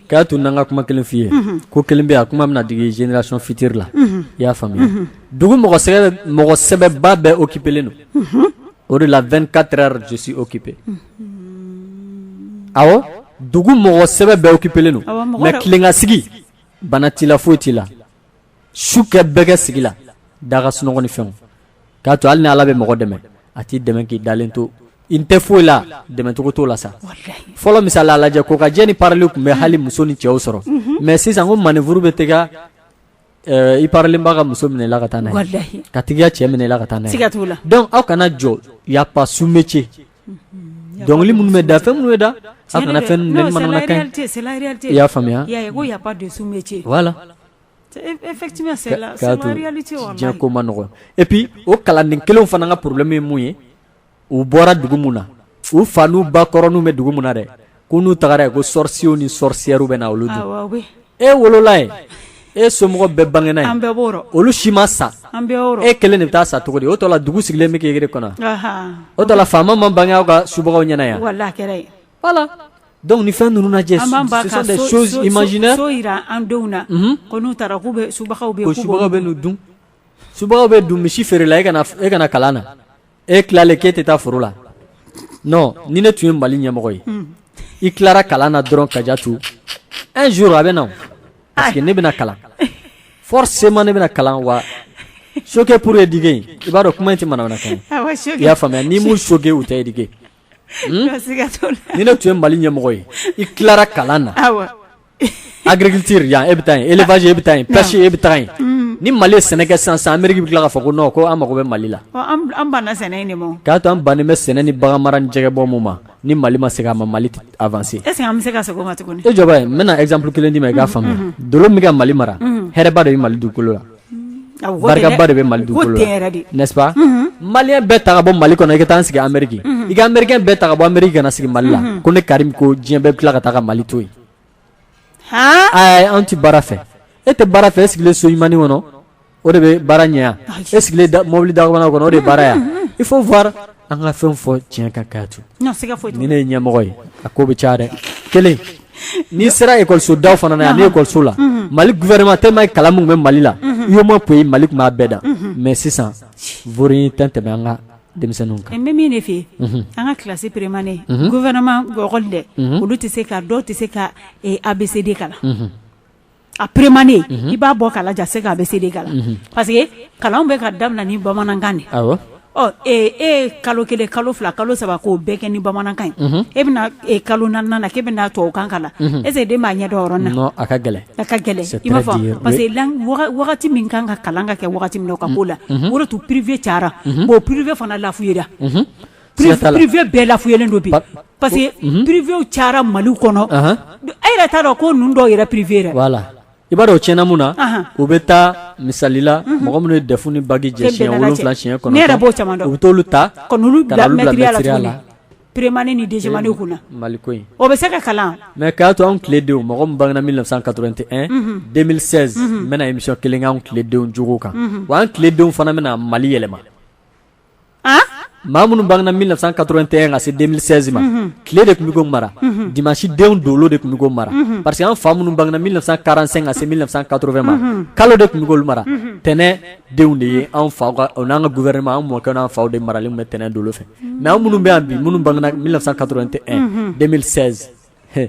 k'a to n ka kuma kelen f'i ye ko kelen bɛ a kuma bɛna digi génération future la i y'a faamuya dugu mɔgɔ sɛbɛba bɛɛ occupélen don o de la 24 heures je suis occupé awɔ dugu mɔgɔ sɛbɛ bɛɛ occupélen don mais tilen ka sigi bana t'i la foyi t'i la su kɛ bɛɛ kɛ sigi la da ka sunɔgɔ ni fɛnw k'a to hali ni ala bɛ mɔgɔ dɛmɛ a t'i dɛmɛ k'i dalen to i tɛ foyi la dɛmɛcogo t'o la san fɔlɔ misali lajɛ kokajɛ ni pareli tun bɛ hali muso ni cɛw sɔrɔ mais sisan ko manœuvre bɛ taga i parelenba ka muso minɛ i la ka taa n'a ye k'a tigi ya cɛ minɛ i la ka taa n'a ye donc aw kana jɔ y a pas sous métier Dɔnkili minnu bɛ da fɛn minnu bɛ da aw kana fɛn i y'a faamuya ko ma nɔgɔ et puis o kalanden kelenw fana ka problème ye mun ye u bɔra dugu min na u fa n'u ba kɔrɔnin bɛ dugu min na dɛ ko n'u taara yen ko sorciers ni sorcières bɛ na olu dun e wolola yen e somɔgɔ bɛɛ bangena yen olu si ma sa e kelen de bɛ taa sa cogo di o tɔ la dugu sigilen bɛ k'e kɔnɔ o tɔ la faama ma bange aw ka subagaw ɲɛna yan voilà donc ni fɛn ninnu lajɛ ce sont des choses imaginaires o yira an denw na ko n'u taara k'u bɛ subagaw bɛ n'u dun subagaw bɛ dun misi feerela e ka na kalan na e tilalen k'e tɛ taa foro la non ni ne tun ye Mali ɲɛmɔgɔ ye i tilara kalan na dɔrɔn Kajatu un jour a bɛ na parce que ne bɛna kalan forcément ne bɛna kalan wa choqué pour éduquer i b'a dɔn kuma in tɛ manamanakan ye ah i y'a faamuya n'i m'u choqué u tɛ éduquer ni ne tun ye Mali ɲɛmɔgɔ ye i tilara kalan na agriculture yan e bɛ taa yen élevage e bɛ taa yen pêche e bɛ taa yen ni Mali ye sɛnɛ kɛ sisan sisan Ameriki bɛ tila k'a fɔ ko non ko an mago bɛ Mali la an banna sɛnɛ in de ma o k'a to an bannen bɛ sɛnɛ ni bagan mara ni jɛgɛ bɔ ninnu ma ni Mali ma segin a ma Mali tɛ avancer est ce que an bɛ se ka segin o ma tuguni e jɔ bani n bɛna exemple kelen d'i ma i k'a faamuya dolo min bɛ ka Mali mara hɛrɛba de bɛ Mali dugukolo la. Barikaba de bɛ mali dugukolo la n'est ce pas malien bɛɛ ta ka bɔ mali kɔnɔ i ka taa an sigi ameriki i ka américain bɛɛ ta ka bɔ ameriki ka na sigi mali la ko ne karim ko diɲɛ bɛɛ bɛ tila ka taa ka mali to yen ayi an tɛ baara fɛ e tɛ baara fɛ e sigilen so ɲumannin kɔnɔ o de bɛ baara ɲɛ yan e sigilen mɔbili dakabana kɔnɔ o de baara yan il faut An ka fɛn fɔ tiɲɛ kan Kajatu ni ne ye ɲɛmɔgɔ ye a ko bɛ caya dɛ kelen n'i sera ekɔliso daw fana na yan ni ekɔliso la mali gouvernement tellement kalan min bɛ mali la UEMOA poyi mali tun b'a bɛɛ dan mais sisan foyi tɛ tɛmɛ an ka denmisɛnninw ka n bɛ min de fɛ yen an ka kilasi peremane gouvernement école dɛ olu tɛ se ka dɔw tɛ se ka ABCD kalan A peremane i b'a bɔ k'a lajɛ a se ka ABCD kalan parce que kalan bɛ ka daminɛ ni bamanankan de ɔ ee e ye kalo kelen kalo fila kalo saba k'o bɛɛ kɛ ni bamanankan ye e bɛna kalo naaninan na k'e bɛna tubabukan kalan est ce que den b'a ɲɛ dɔn o yɔrɔ na a ka gɛlɛn a ka gɛlɛn i m'a fɔ parce que wagati min kan ka kalan ka kɛ wagati min na o ka k'o la o de y'a to privé cayara bon privé fana lafuyara privé bɛɛ lafuyalen don bi parce que privéw cayara mali kɔnɔ e yɛrɛ t'a dɔn ko ninnu dɔw yɛrɛ privé yɛrɛ voilà i b'a dɔn o tiɲɛna mun na u bɛ taa misali la mɔgɔ minnu ye DEF ni bac jɛ siɲɛ wolonwula siɲɛ kɔnɔntɔn ne yɛrɛ b'o caman dɔn u bɛ t'olu ta ka n'olu bila maîtrise la peremane ni deuxième kunna mali ko o bɛ se ka kalan mais k'a to anw tiledenw mɔgɔ min bangena mille neuf cent quatre-vingt-un deux mille seize n bɛna émission kelen kɛ anw tiledenw jogo kan wa an tiledenw fana bɛna mali yɛlɛma maa minnu bangena 1981 ka se 2016 ma tile de tun bɛ k'u mara dimanche denw dolo de tun bɛ k'u mara parce que an fa minnu bangena 1945 ka se 1980 ma kalo de tun bɛ k'olu mara tɛnɛn denw de ye an faw n'an ka gouvernement an mɔkɛw n'an faw de maralen tun bɛ tɛnɛn dolo fɛ mais an minnu bɛ yan bi minnu bangena 1981 2016 he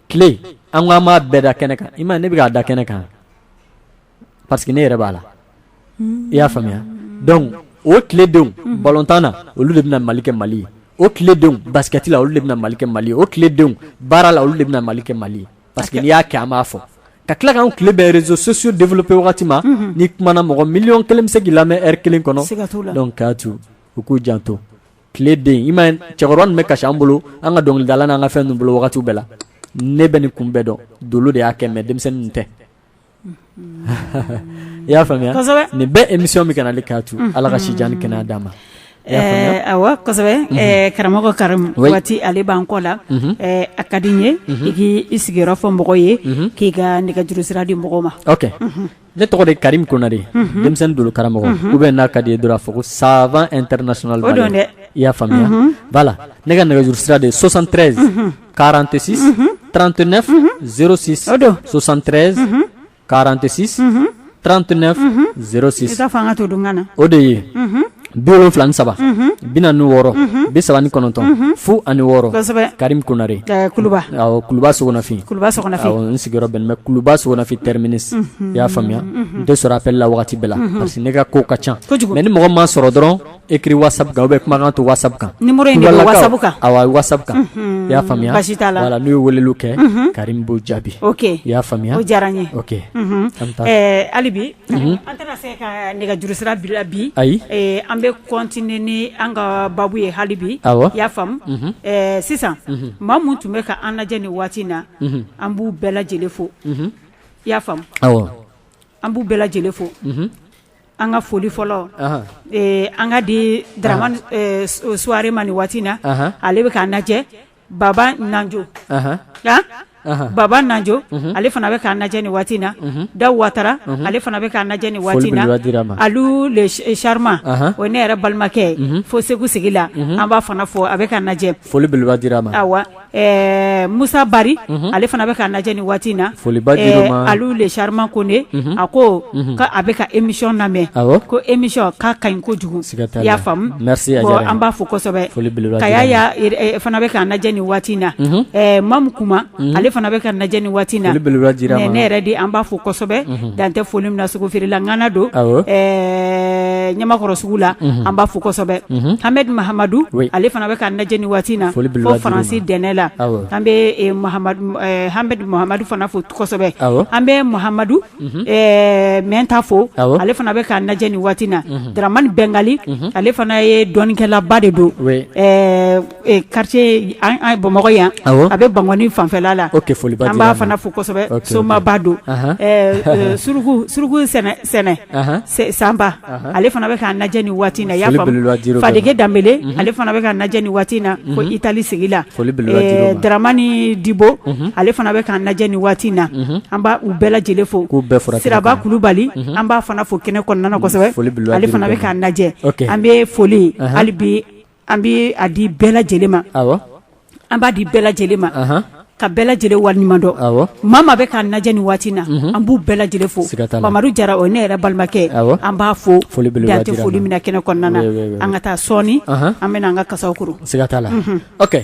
tile an ko an b'a bɛɛ da kɛnɛ kan i m'a ye ne bɛ k'a da kɛnɛ kan parce que ne yɛrɛ b'a la i y'a faamuya donc o tiledenw balontan na olu de bɛna mali kɛ mali o tiledenw basikɛti la olu de bɛna mali kɛ mali o tiledenw baara la olu de bɛna mali kɛ mali parce que n'i y'a kɛ an b'a fɔ ka tila kan tile bɛ réseaux sociaux développer wagati ma n'i kumana mɔgɔ million kelen bɛ se k'i lamɛn lɛri kelen kɔnɔ donc a to u k'u janto tileden i m'a ye cɛkɔrɔba bɛ kasi an bolo an ka dɔnkilidala n'an ka fɛn ninnu bolo wagati bɛɛ la ne bɛ nin kun bɛɛ dɔn dolo de y'a kɛ mais denmisɛnnin tɛ i y'a faamuya ne bɛ emission min kan ale k'a to ala ka si jan ani kɛnɛya d'a ma awɔ kosɛbɛ karamɔgɔ Karim waati ale b'an kɔ la a ka di n ye i k' i sigiyɔrɔ fɔ mɔgɔ ye k'i ka nɛgɛjuru sira di mɔgɔ ma OK ne tɔgɔ de Karim Konare denmisɛnnin dolo karamɔgɔ u bɛ n'a ka di dɔrɔn fɔ ko savant international dɛ i y'a faamuya voilà ne ka nɛgɛjuru sira de ye 73 46 39 06 o don 73 46 39 06 i ka fanga to don na o de ye bi wolonfila ni saba bi naani ni wɔɔrɔ bi saba ni kɔnɔntɔn fu ani wɔɔrɔ Karim Konare Kuluba Sogonafin n sigiyɔrɔ bɛ min Kuluba Sogonafin terminus i y'a faamuya n tɛ sɔrɔ appel la waati bɛɛ la parce que ne ka ko ka ca mais ni mɔgɔ ma sɔrɔ dɔrɔn Écrit WhatsApp kan u bɛ kumakan to WhatsApp kan numéro nin WhatsApp kan awɔ WhatsApp kan i y'a faamuya voilà n'u ye wele kɛ Karim b'u jaabi OK i y'a faamuya o diyara an ye halibi an tɛna se ka nɛgɛjuru sira bila bi ayi an bɛ continuer ni an ka baabu ye halibi i y'a faamu sisan maa minnu tun bɛ ka an lajɛ ni waati in na an b'u bɛɛ lajɛlen fo i y'a faamu an b'u bɛɛ lajɛlen fo An ka foli fɔlɔ an k'a di Daraman Suware ma ni waati na ale bɛ k'an lajɛ Baba Nanjo Baba Nanjo ale fana bɛ k'an lajɛ ni waati na Da Watara ale fana bɛ k'an lajɛ ni waati na Alu le charmant o ne yɛrɛ balimakɛ fo segu sigi la an b'a fana fo a bɛ k'an lajɛ foli ɛɛ Musa Bari, unhun, ale fana bɛ k'an lajɛ ni waati in na, foliba dira o ma, ɛɛ Alu le charmant Kone, unhun, a ko, unhun, k'a bɛ ka emission lamɛn, awɔ, ko emission k'a ka ɲi kojugu, siga t'a la, i y'a faamu, merci a diyara an ye, bon an b'a fo kosɛbɛ, foli belebeleba dira a ma, Kayaya fana bɛ k'an lajɛ ni waati in na, unhun, ɛɛ Mamu Kuma, unhun, ale fana bɛ k'an lajɛ ni waati in na, foli belebeleba dira a ma, Nɛnɛ Yɛrɛdi an b'a fo kosɛbɛ, unhun. Dan tɛ foli min na sogo feerela ŋana don ɛɛ ɲamakɔrɔ sugu la an b'a fo kosɛbɛ hamɛdi mahamadu ale fana bɛ k'an lajɛ ni waati na fo faransi dɛnɛ la an bɛ hamɛdi mahamadu fana fo kosɛbɛ an bɛ mahamadu mɛnta fo ale fana bɛ k'an lajɛ ni waati na dramani bɛngali ale fana ye dɔnnikɛlaba de don kartiye bamakɔ yan a bɛ bankɔni fanfɛla la o foli an b'a fana fo kosɛbɛ somaba don suruku suruku sɛnɛ sanba ale fana bɛ k'an lajɛ ni waati na ya fadike danbele ale fana bɛ k'an lajɛ ni waati na fo itali sigi la dramani dibo ale fana bɛ k'an lajɛ ni waati na an b' u bɛɛ lajɛlen fo siraba kulubali an b'a fana fo kɛnɛ kɔnɔna na kosɛbɛ ale fana bɛ k'an lajɛ an bɛ foli hali bi An bɛ a di bɛɛ lajɛlen ma an b'a di bɛɛ lajɛlen ma ka bɛɛ lajɛlen waliɲuman dɔn maa maa bɛ k'an lajɛ ni waati na an b'u bɛɛ lajɛlen fo mamadu jara o ne yɛrɛ balimakɛ an b'a fo dan tɛ foli min na kɛnɛ kɔnɔna na an ka taa sɔɔni an bɛna an ka kasaw kɔrɔsi ka t'a la ok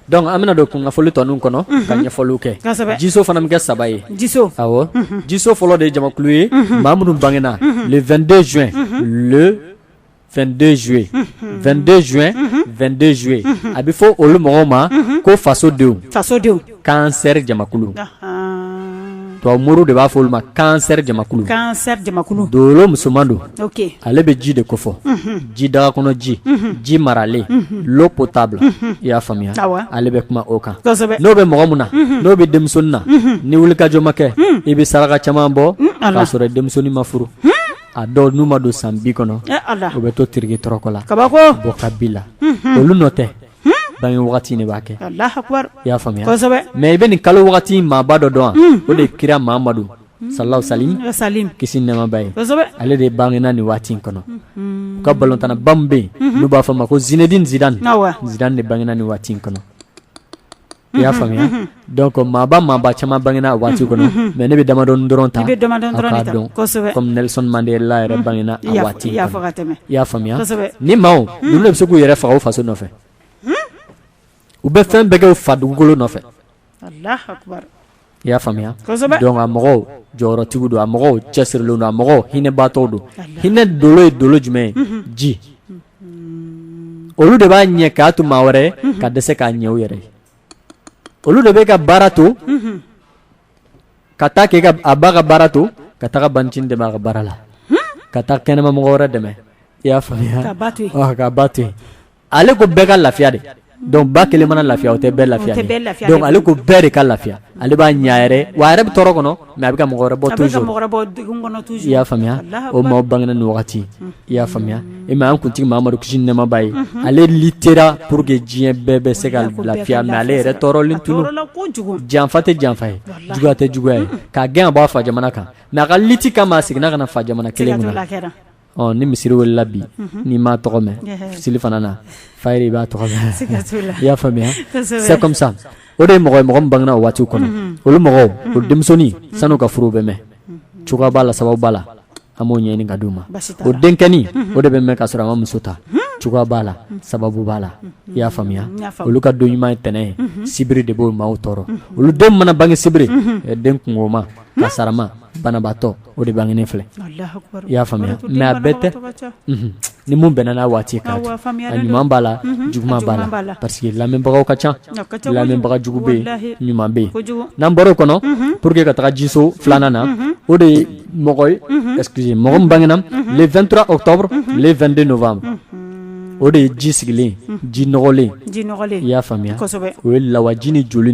dɔnku an bɛna don kunnafoni tɔ nin kɔnɔ ka ɲɛfɔliw kɛ jiso fana min kɛ saba ye jiso jiso fɔlɔ de ye jamakulu ye maa minnu bangena le 22 juin 22 juin 22 juin 22 juillet a bɛ fɔ olu mɔgɔw ma ko fasodenw kansɛ jamakulu to mori de b'a fɔ olu ma kansɛ jamakulu dolo musoman don ale bɛ ji de kofɔ ji daga kɔnɔ ji ji maralen l'eau potable i y'a faamuya ale bɛ kuma o kan n'o bɛ mɔgɔ min na n'o bɛ denmusonin na ni wulikajɔ ma kɛ i bɛ saraka caman bɔ k'a sɔrɔ denmusonin ma furu a dɔw n'u ma don san bi kɔnɔ u bɛ to tiriki tɔrɔkɔ la kaba bɔ k'a bila olu nɔ tɛ bange wagati de b'a kɛ i y'a faamuya mɛ i bɛ nin kalo wagati maaba dɔ dɔn o de kira mamadu salalahu salimu kisi nɛɛma b'a ye ale de bangena ni waati in kɔnɔ u ka balɔntannaba min bɛ yen n'u b'a fɔ ma ko Zinedine Zidane de bangena ni waati in kɔnɔ I y'a faamuya dɔnku maaba maaba caman bangena a waati kɔnɔ mɛ ne bɛ damadɔ dɔrɔn ta komi Nelson Mandela yɛrɛ bangena waati i y'a faamuya nin maa ninnu de bɛ se k'u yɛrɛ faga u faso nɔfɛ u bɛ fɛn bɛɛ kɛ u fa dugukolo nɔfɛ i y'a faamuya dɔnku a mɔgɔw jɔyɔrɔtigiw don a mɔgɔw cɛsirilen don a mɔgɔw hinɛbatɔ don hinɛ dolo ye dolo jumɛn ye ji olu de b'a ɲɛ k'a to maa wɛrɛ ka dɛsɛ k'a ɲɛ u yɛrɛ ye olu de bɛ ka baara to ka taa kɛ a b'a ka baara to ka taga bancinin dɛmɛ a ka baara la ka taa kɛnɛma mɔgɔ wɛrɛ dɛmɛ i y'a faamuya ka ba to yen ale ko bɛɛ ka lafiya de donc ba kelen mana lafiya o tɛ bɛɛ lafiya ale ko bɛɛ de ka lafiya ale b'a ɲɛ yɛrɛ wa yɛrɛ bɛ tɔɔrɔ kɔnɔ mɛ a bɛ ka mɔgɔ wɛrɛ bɔ i y'a faamuya o maaw bangena nin wagati i y'a faamuya e ma an kuntigi mamadu kisi ni nɛɛma b'a ye ale litera pour que diɲɛ bɛɛ bɛ se ka lafiya mɛ ale yɛrɛ tɔɔrɔlen tun don janfa tɛ janfa ye juguya tɛ juguya ye k'a gɛn b'a fa jamana kan mɛ a ka liti kama a seginna ka n'a fa jamana kelen Ɔ ni misiri welela bi n'i m'a tɔgɔ mɛn seli fana na fa i b'a tɔgɔ mɛn i y'a faamuya c'est comme ça o de ye mɔgɔ min bangena o waati kɔnɔ olu mɔgɔw o denmusonin san'u ka furu bɛ mɛn cogoya b'a la sababu b'a la an b'o ɲɛɲini ka d'u ma o denkɛnin o de bɛ mɛn ka sɔrɔ a ma muso ta cogoya b'a la sababu b'a la i y'a faamuya olu ka don ɲuman ye ntɛnɛn ye sibiri de b'o maaw tɔɔrɔ olu den mana bange sibiri den kunma kasaarama banabaatɔ o de bangelen filɛ i y'a faamuya mɛ a bɛɛ tɛ ni min bɛnna n'a waati ka ɲuman b'a la juguman b'a la parce que lamɛnbagaw ka ca lamɛnbaga jugu bɛ ɲuman bɛ n'an baro kɔnɔ pour que ka taga jiso filanan na o de ye mɔgɔ ye excusez mɔgɔ min bangena le 23 octobre le 22 novembre o de ye ji sigilen ji nɔgɔlen y'a faamuya o ye lawaji ni joli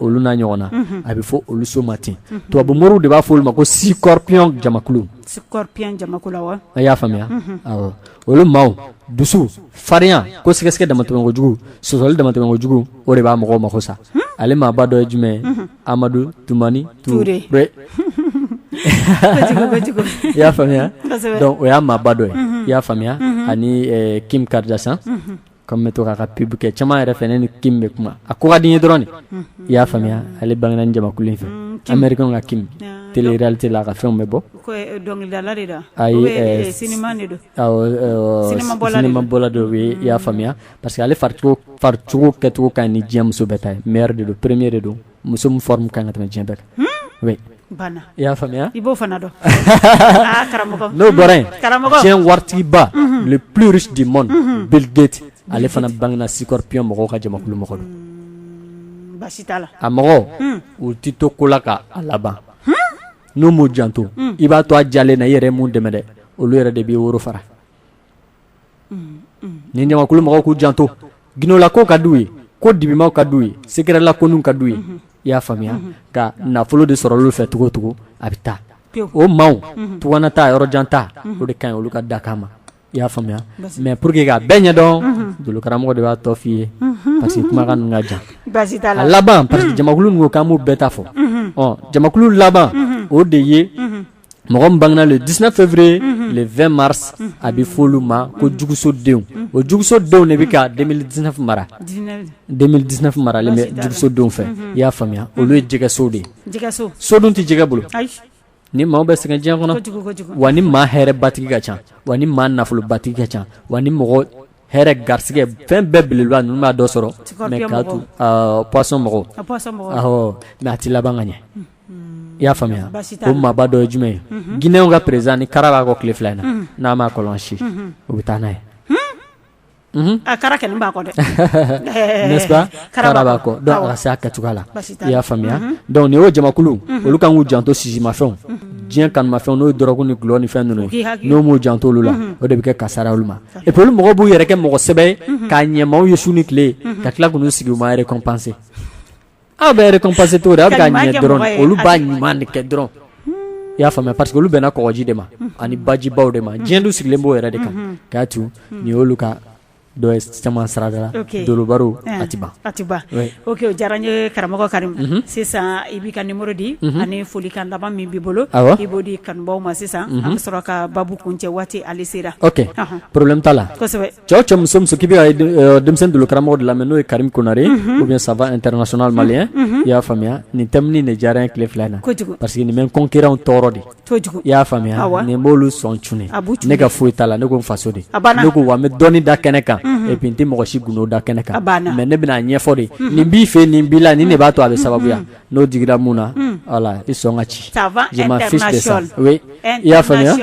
olu na ɲɔgɔn na a bɛ fɔ olu so ma ten tubabu moriw de b'a fɔ olu ma ko Scorpion jamakulu a y'a faamuya olu maaw dusu farinya ko sɛgɛsɛgɛ damatɛmɛ kojugu sɔsɔli damatɛmɛ kojugu o de b'a mɔgɔw mako sa ale maaba dɔ ye jumɛn ye Amadou Toumani Touré i y'a faamuya donc o y'a maaba dɔ ye i y'a faamuya ani Kim Kardashian comme an bɛ to k'a ka pub kɛ caman yɛrɛ fɛ ne ni Kim bɛ kuma a ko ka di n ye dɔrɔn i y'a faamuya ale bangena jamakulu in fɛ Amerikɛn ka Kim télé réalité la a ka fɛnw bɛ bɔ ayi cinéma bɔla don i y'a faamuya parce que ale faricogo kɛcogo ka ɲi ni diɲɛ muso bɛɛ ta ye meilleur de don premier de don muso min forme ka ɲi ka tɛmɛ diɲɛ bɛɛ kan oui banna i y'a faamuya i b'o fana dɔn aa karamɔgɔ n'o bɔra yen karamɔgɔ diɲɛ waritigiba le plus riche du monde Bill Gates ale fana bangena Scorpion mɔgɔw ka jamakulu mɔgɔ don baasi t'a la a mɔgɔw u tɛ to ko la ka a laban n'u m'u janto i b'a to a jalen na i yɛrɛ ye mun dɛmɛ dɛ olu yɛrɛ de b'i woro fara nin jamakulu mɔgɔw k'u janto gundola kow ka d'u ye ko dibimanw ka d'u ye secret la kow ka d'u ye i y'a faamuya ka nafolo de sɔrɔ olu fɛ cogo o cogo a bɛ taa o maaw tunga taa yɔrɔ jan taa o de ka ɲi olu ka dakan ma i y'a faamuya mɛ pour que k'a bɛɛ ɲɛdɔn dolo karamɔgɔ de b'a tɔ f'i ye parce que kuma ka jan baasi t'a la laban parce que jamakulu ko k'an b'u bɛɛ ta fɔ jamakulu laban o de ye mɔgɔ min bangera le 19 février le 20 mars a bɛ fɔ olu ma ko jugusodenw o jugusodenw de bɛ ka 2019 mara 2019 marala jugusodenw fɛ i y'a faamuya olu ye jɛgɛso de ye so dun tɛ jɛgɛ bolo ni maaw bɛ sɛgɛn diɲɛ kɔnɔ wa ni maa hɛrɛbatigi ka ca wa ni maa nafolobatigi ka ca wa ni mɔgɔ hɛrɛ garisɛgɛ fɛn bɛɛ belebeleba ninnu b'a dɔ sɔrɔ mais k'a to poisson mɔgɔw ma a tɛ laban ka ɲɛ i y'a faamuya ko maaba dɔ ye jumɛn ye guinée ka président nin kara b'a kɔ tile fila in na n'a m'a kɔlɔsi u bɛ taa n'a ye a kara kɛ b'a kɔ dɛ kara b'a kɔ a se ka cogoya la i y'a faamuya donc o jamakulu olu kan k'u janto sisimafɛnw diɲɛ kanumafɛn n'o dɔrɔgu ni dɔlɔ ni fɛn ninnu n'u m'u janto olu la o de bɛ kɛ kasaara olu ma e bolo mɔgɔ b'u yɛrɛ kɛ mɔgɔ sɛbɛ ye ka ɲɛ maaw ye su ni tile ka tila k'u sigi u ma récompenser Aw bɛ récompenser to aw ka ɲɛ dɔrɔn olu b'a ɲuman de kɛ dɔrɔn i y'a faamuya parce que olu bɛnna kɔgɔji de ma ani bajibaw de ma diɲɛ dun sigilen b'o yɛrɛ de kan k'a to nin y'olu ka dɔ ye caman sarada la dolobaro atiba ok o diyara n ye karamɔgɔ karim sisan i b'i ka numéro di ani folikan laban min b'i bolo i b'o di kanubaw ma sisan an bɛ sɔrɔ ka baabu kun cɛ waati ale sera problème t'a la cɛ o cɛ muso muso k'i bɛ ka denmisɛnnin dolo karamɔgɔ de lamɛn n'o ye karim konare ou bien savant international malien i y'a faamuya nin thème nin de diyara n ye tile fila in na parce que nin bɛ n concurrentw tɔɔrɔ de i y'a faamuya nin b'olu sɔn cun ne ka foyi t'a la ne ko n faso de ne ko wa n bɛ dɔnni da kɛnɛ kan et puis n tɛ mɔgɔ si gundo da kɛnɛ kan mais ne bɛna a ɲɛfɔ de nin b'i fɛ nin b'i la nin de b'a to a bɛ sababuya N'o digira min na wala i sɔn ka ci i y'a faamuya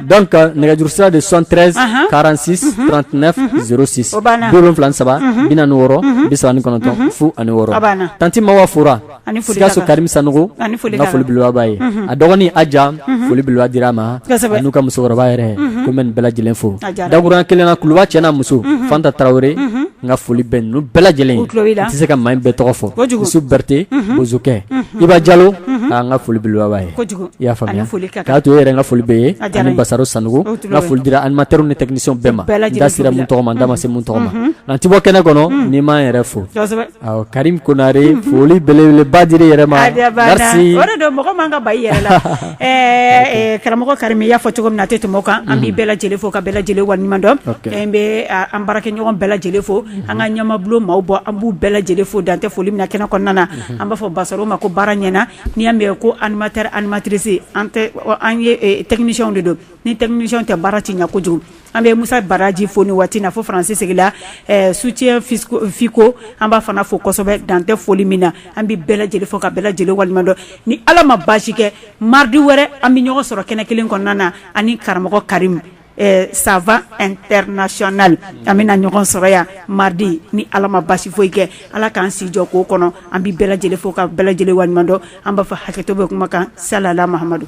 dɔn ka nɛgɛjuru sira de sɔn tɛsiransi saba saba bi wɔɔrɔ bisa ni kɔnɔntɔn fu ani wɔɔrɔ tanti ma waa fɔra sikaso kari san foliolibaa ye a dɔgɔnin a jan folibiwa di a ma n'u ka musokɔrɔba yɛrɛ ko bɛ bɛɛ lajɛlen fo dakurauran kelenna kuluba cɛ muso fanta tarawele n ka foli bɛ ninnu bɛɛ lajɛlen ye n tɛ se ka maa bɛɛ tɔgɔ fɔ yusu berete bozokɛ iba jalo n ka foli belebeleba b'a ye i y'a faamuya k'a to e yɛrɛ n ka foli b'e ye ani basaro sanɔgɔ n ka foli dira animateur ni technicien bɛɛ ma n da sera min tɔgɔ ma n da ma se min tɔgɔ ma nka n tɛ bɔ kɛnɛ kɔnɔ ni n ma n yɛrɛ fo karim konare foli belebeleba dira i yɛrɛ ma Ɛɛ karamɔgɔ karim i y'a fɔ cogo min na a tɛ tɛmɛ o kan an bɛ bɛɛ lajɛlen fo ka bɛɛ lajɛlen waleɲuman dɔn n bɛ an baarakɛɲɔgɔn bɛɛ lajɛlen fo an ka ɲɛmabulon maaw bɔ an b'u bɛɛ lajɛlen fo dan tɛ foli min na kɛnɛ kɔnɔna na an b'a fɔ basaro ma ko baara ɲɛna n'i y'a mɛn ko animateur animatrice an technicienw de don ni technicienw tɛ baara tɛ ɲɛ kojugu An bɛ Musa Baraji fo ni waati in na fo Faransi sigila ɛ soutien Fisco an b'a fana fo kosɛbɛ dan tɛ foli min na, an bɛ bɛɛ lajɛlen fo ka bɛɛ lajɛlen waleɲumandɔn, ni Ala ma baasi kɛ mardi wɛrɛ an bɛ ɲɔgɔn sɔrɔ kɛnɛ kelen kɔnɔna na ani karamɔgɔ Karimu ɛ savant international an bɛna ɲɔgɔn sɔrɔ yan mardi ni Ala ma baasi foyi kɛ Ala k'an si jɔ k'o kɔnɔ, an bɛ bɛɛ lajɛlen fo ka bɛɛ lajɛlen waleɲumandɔn, an b'a fɔ hakɛto bɛ kuma kan salala Mahamadu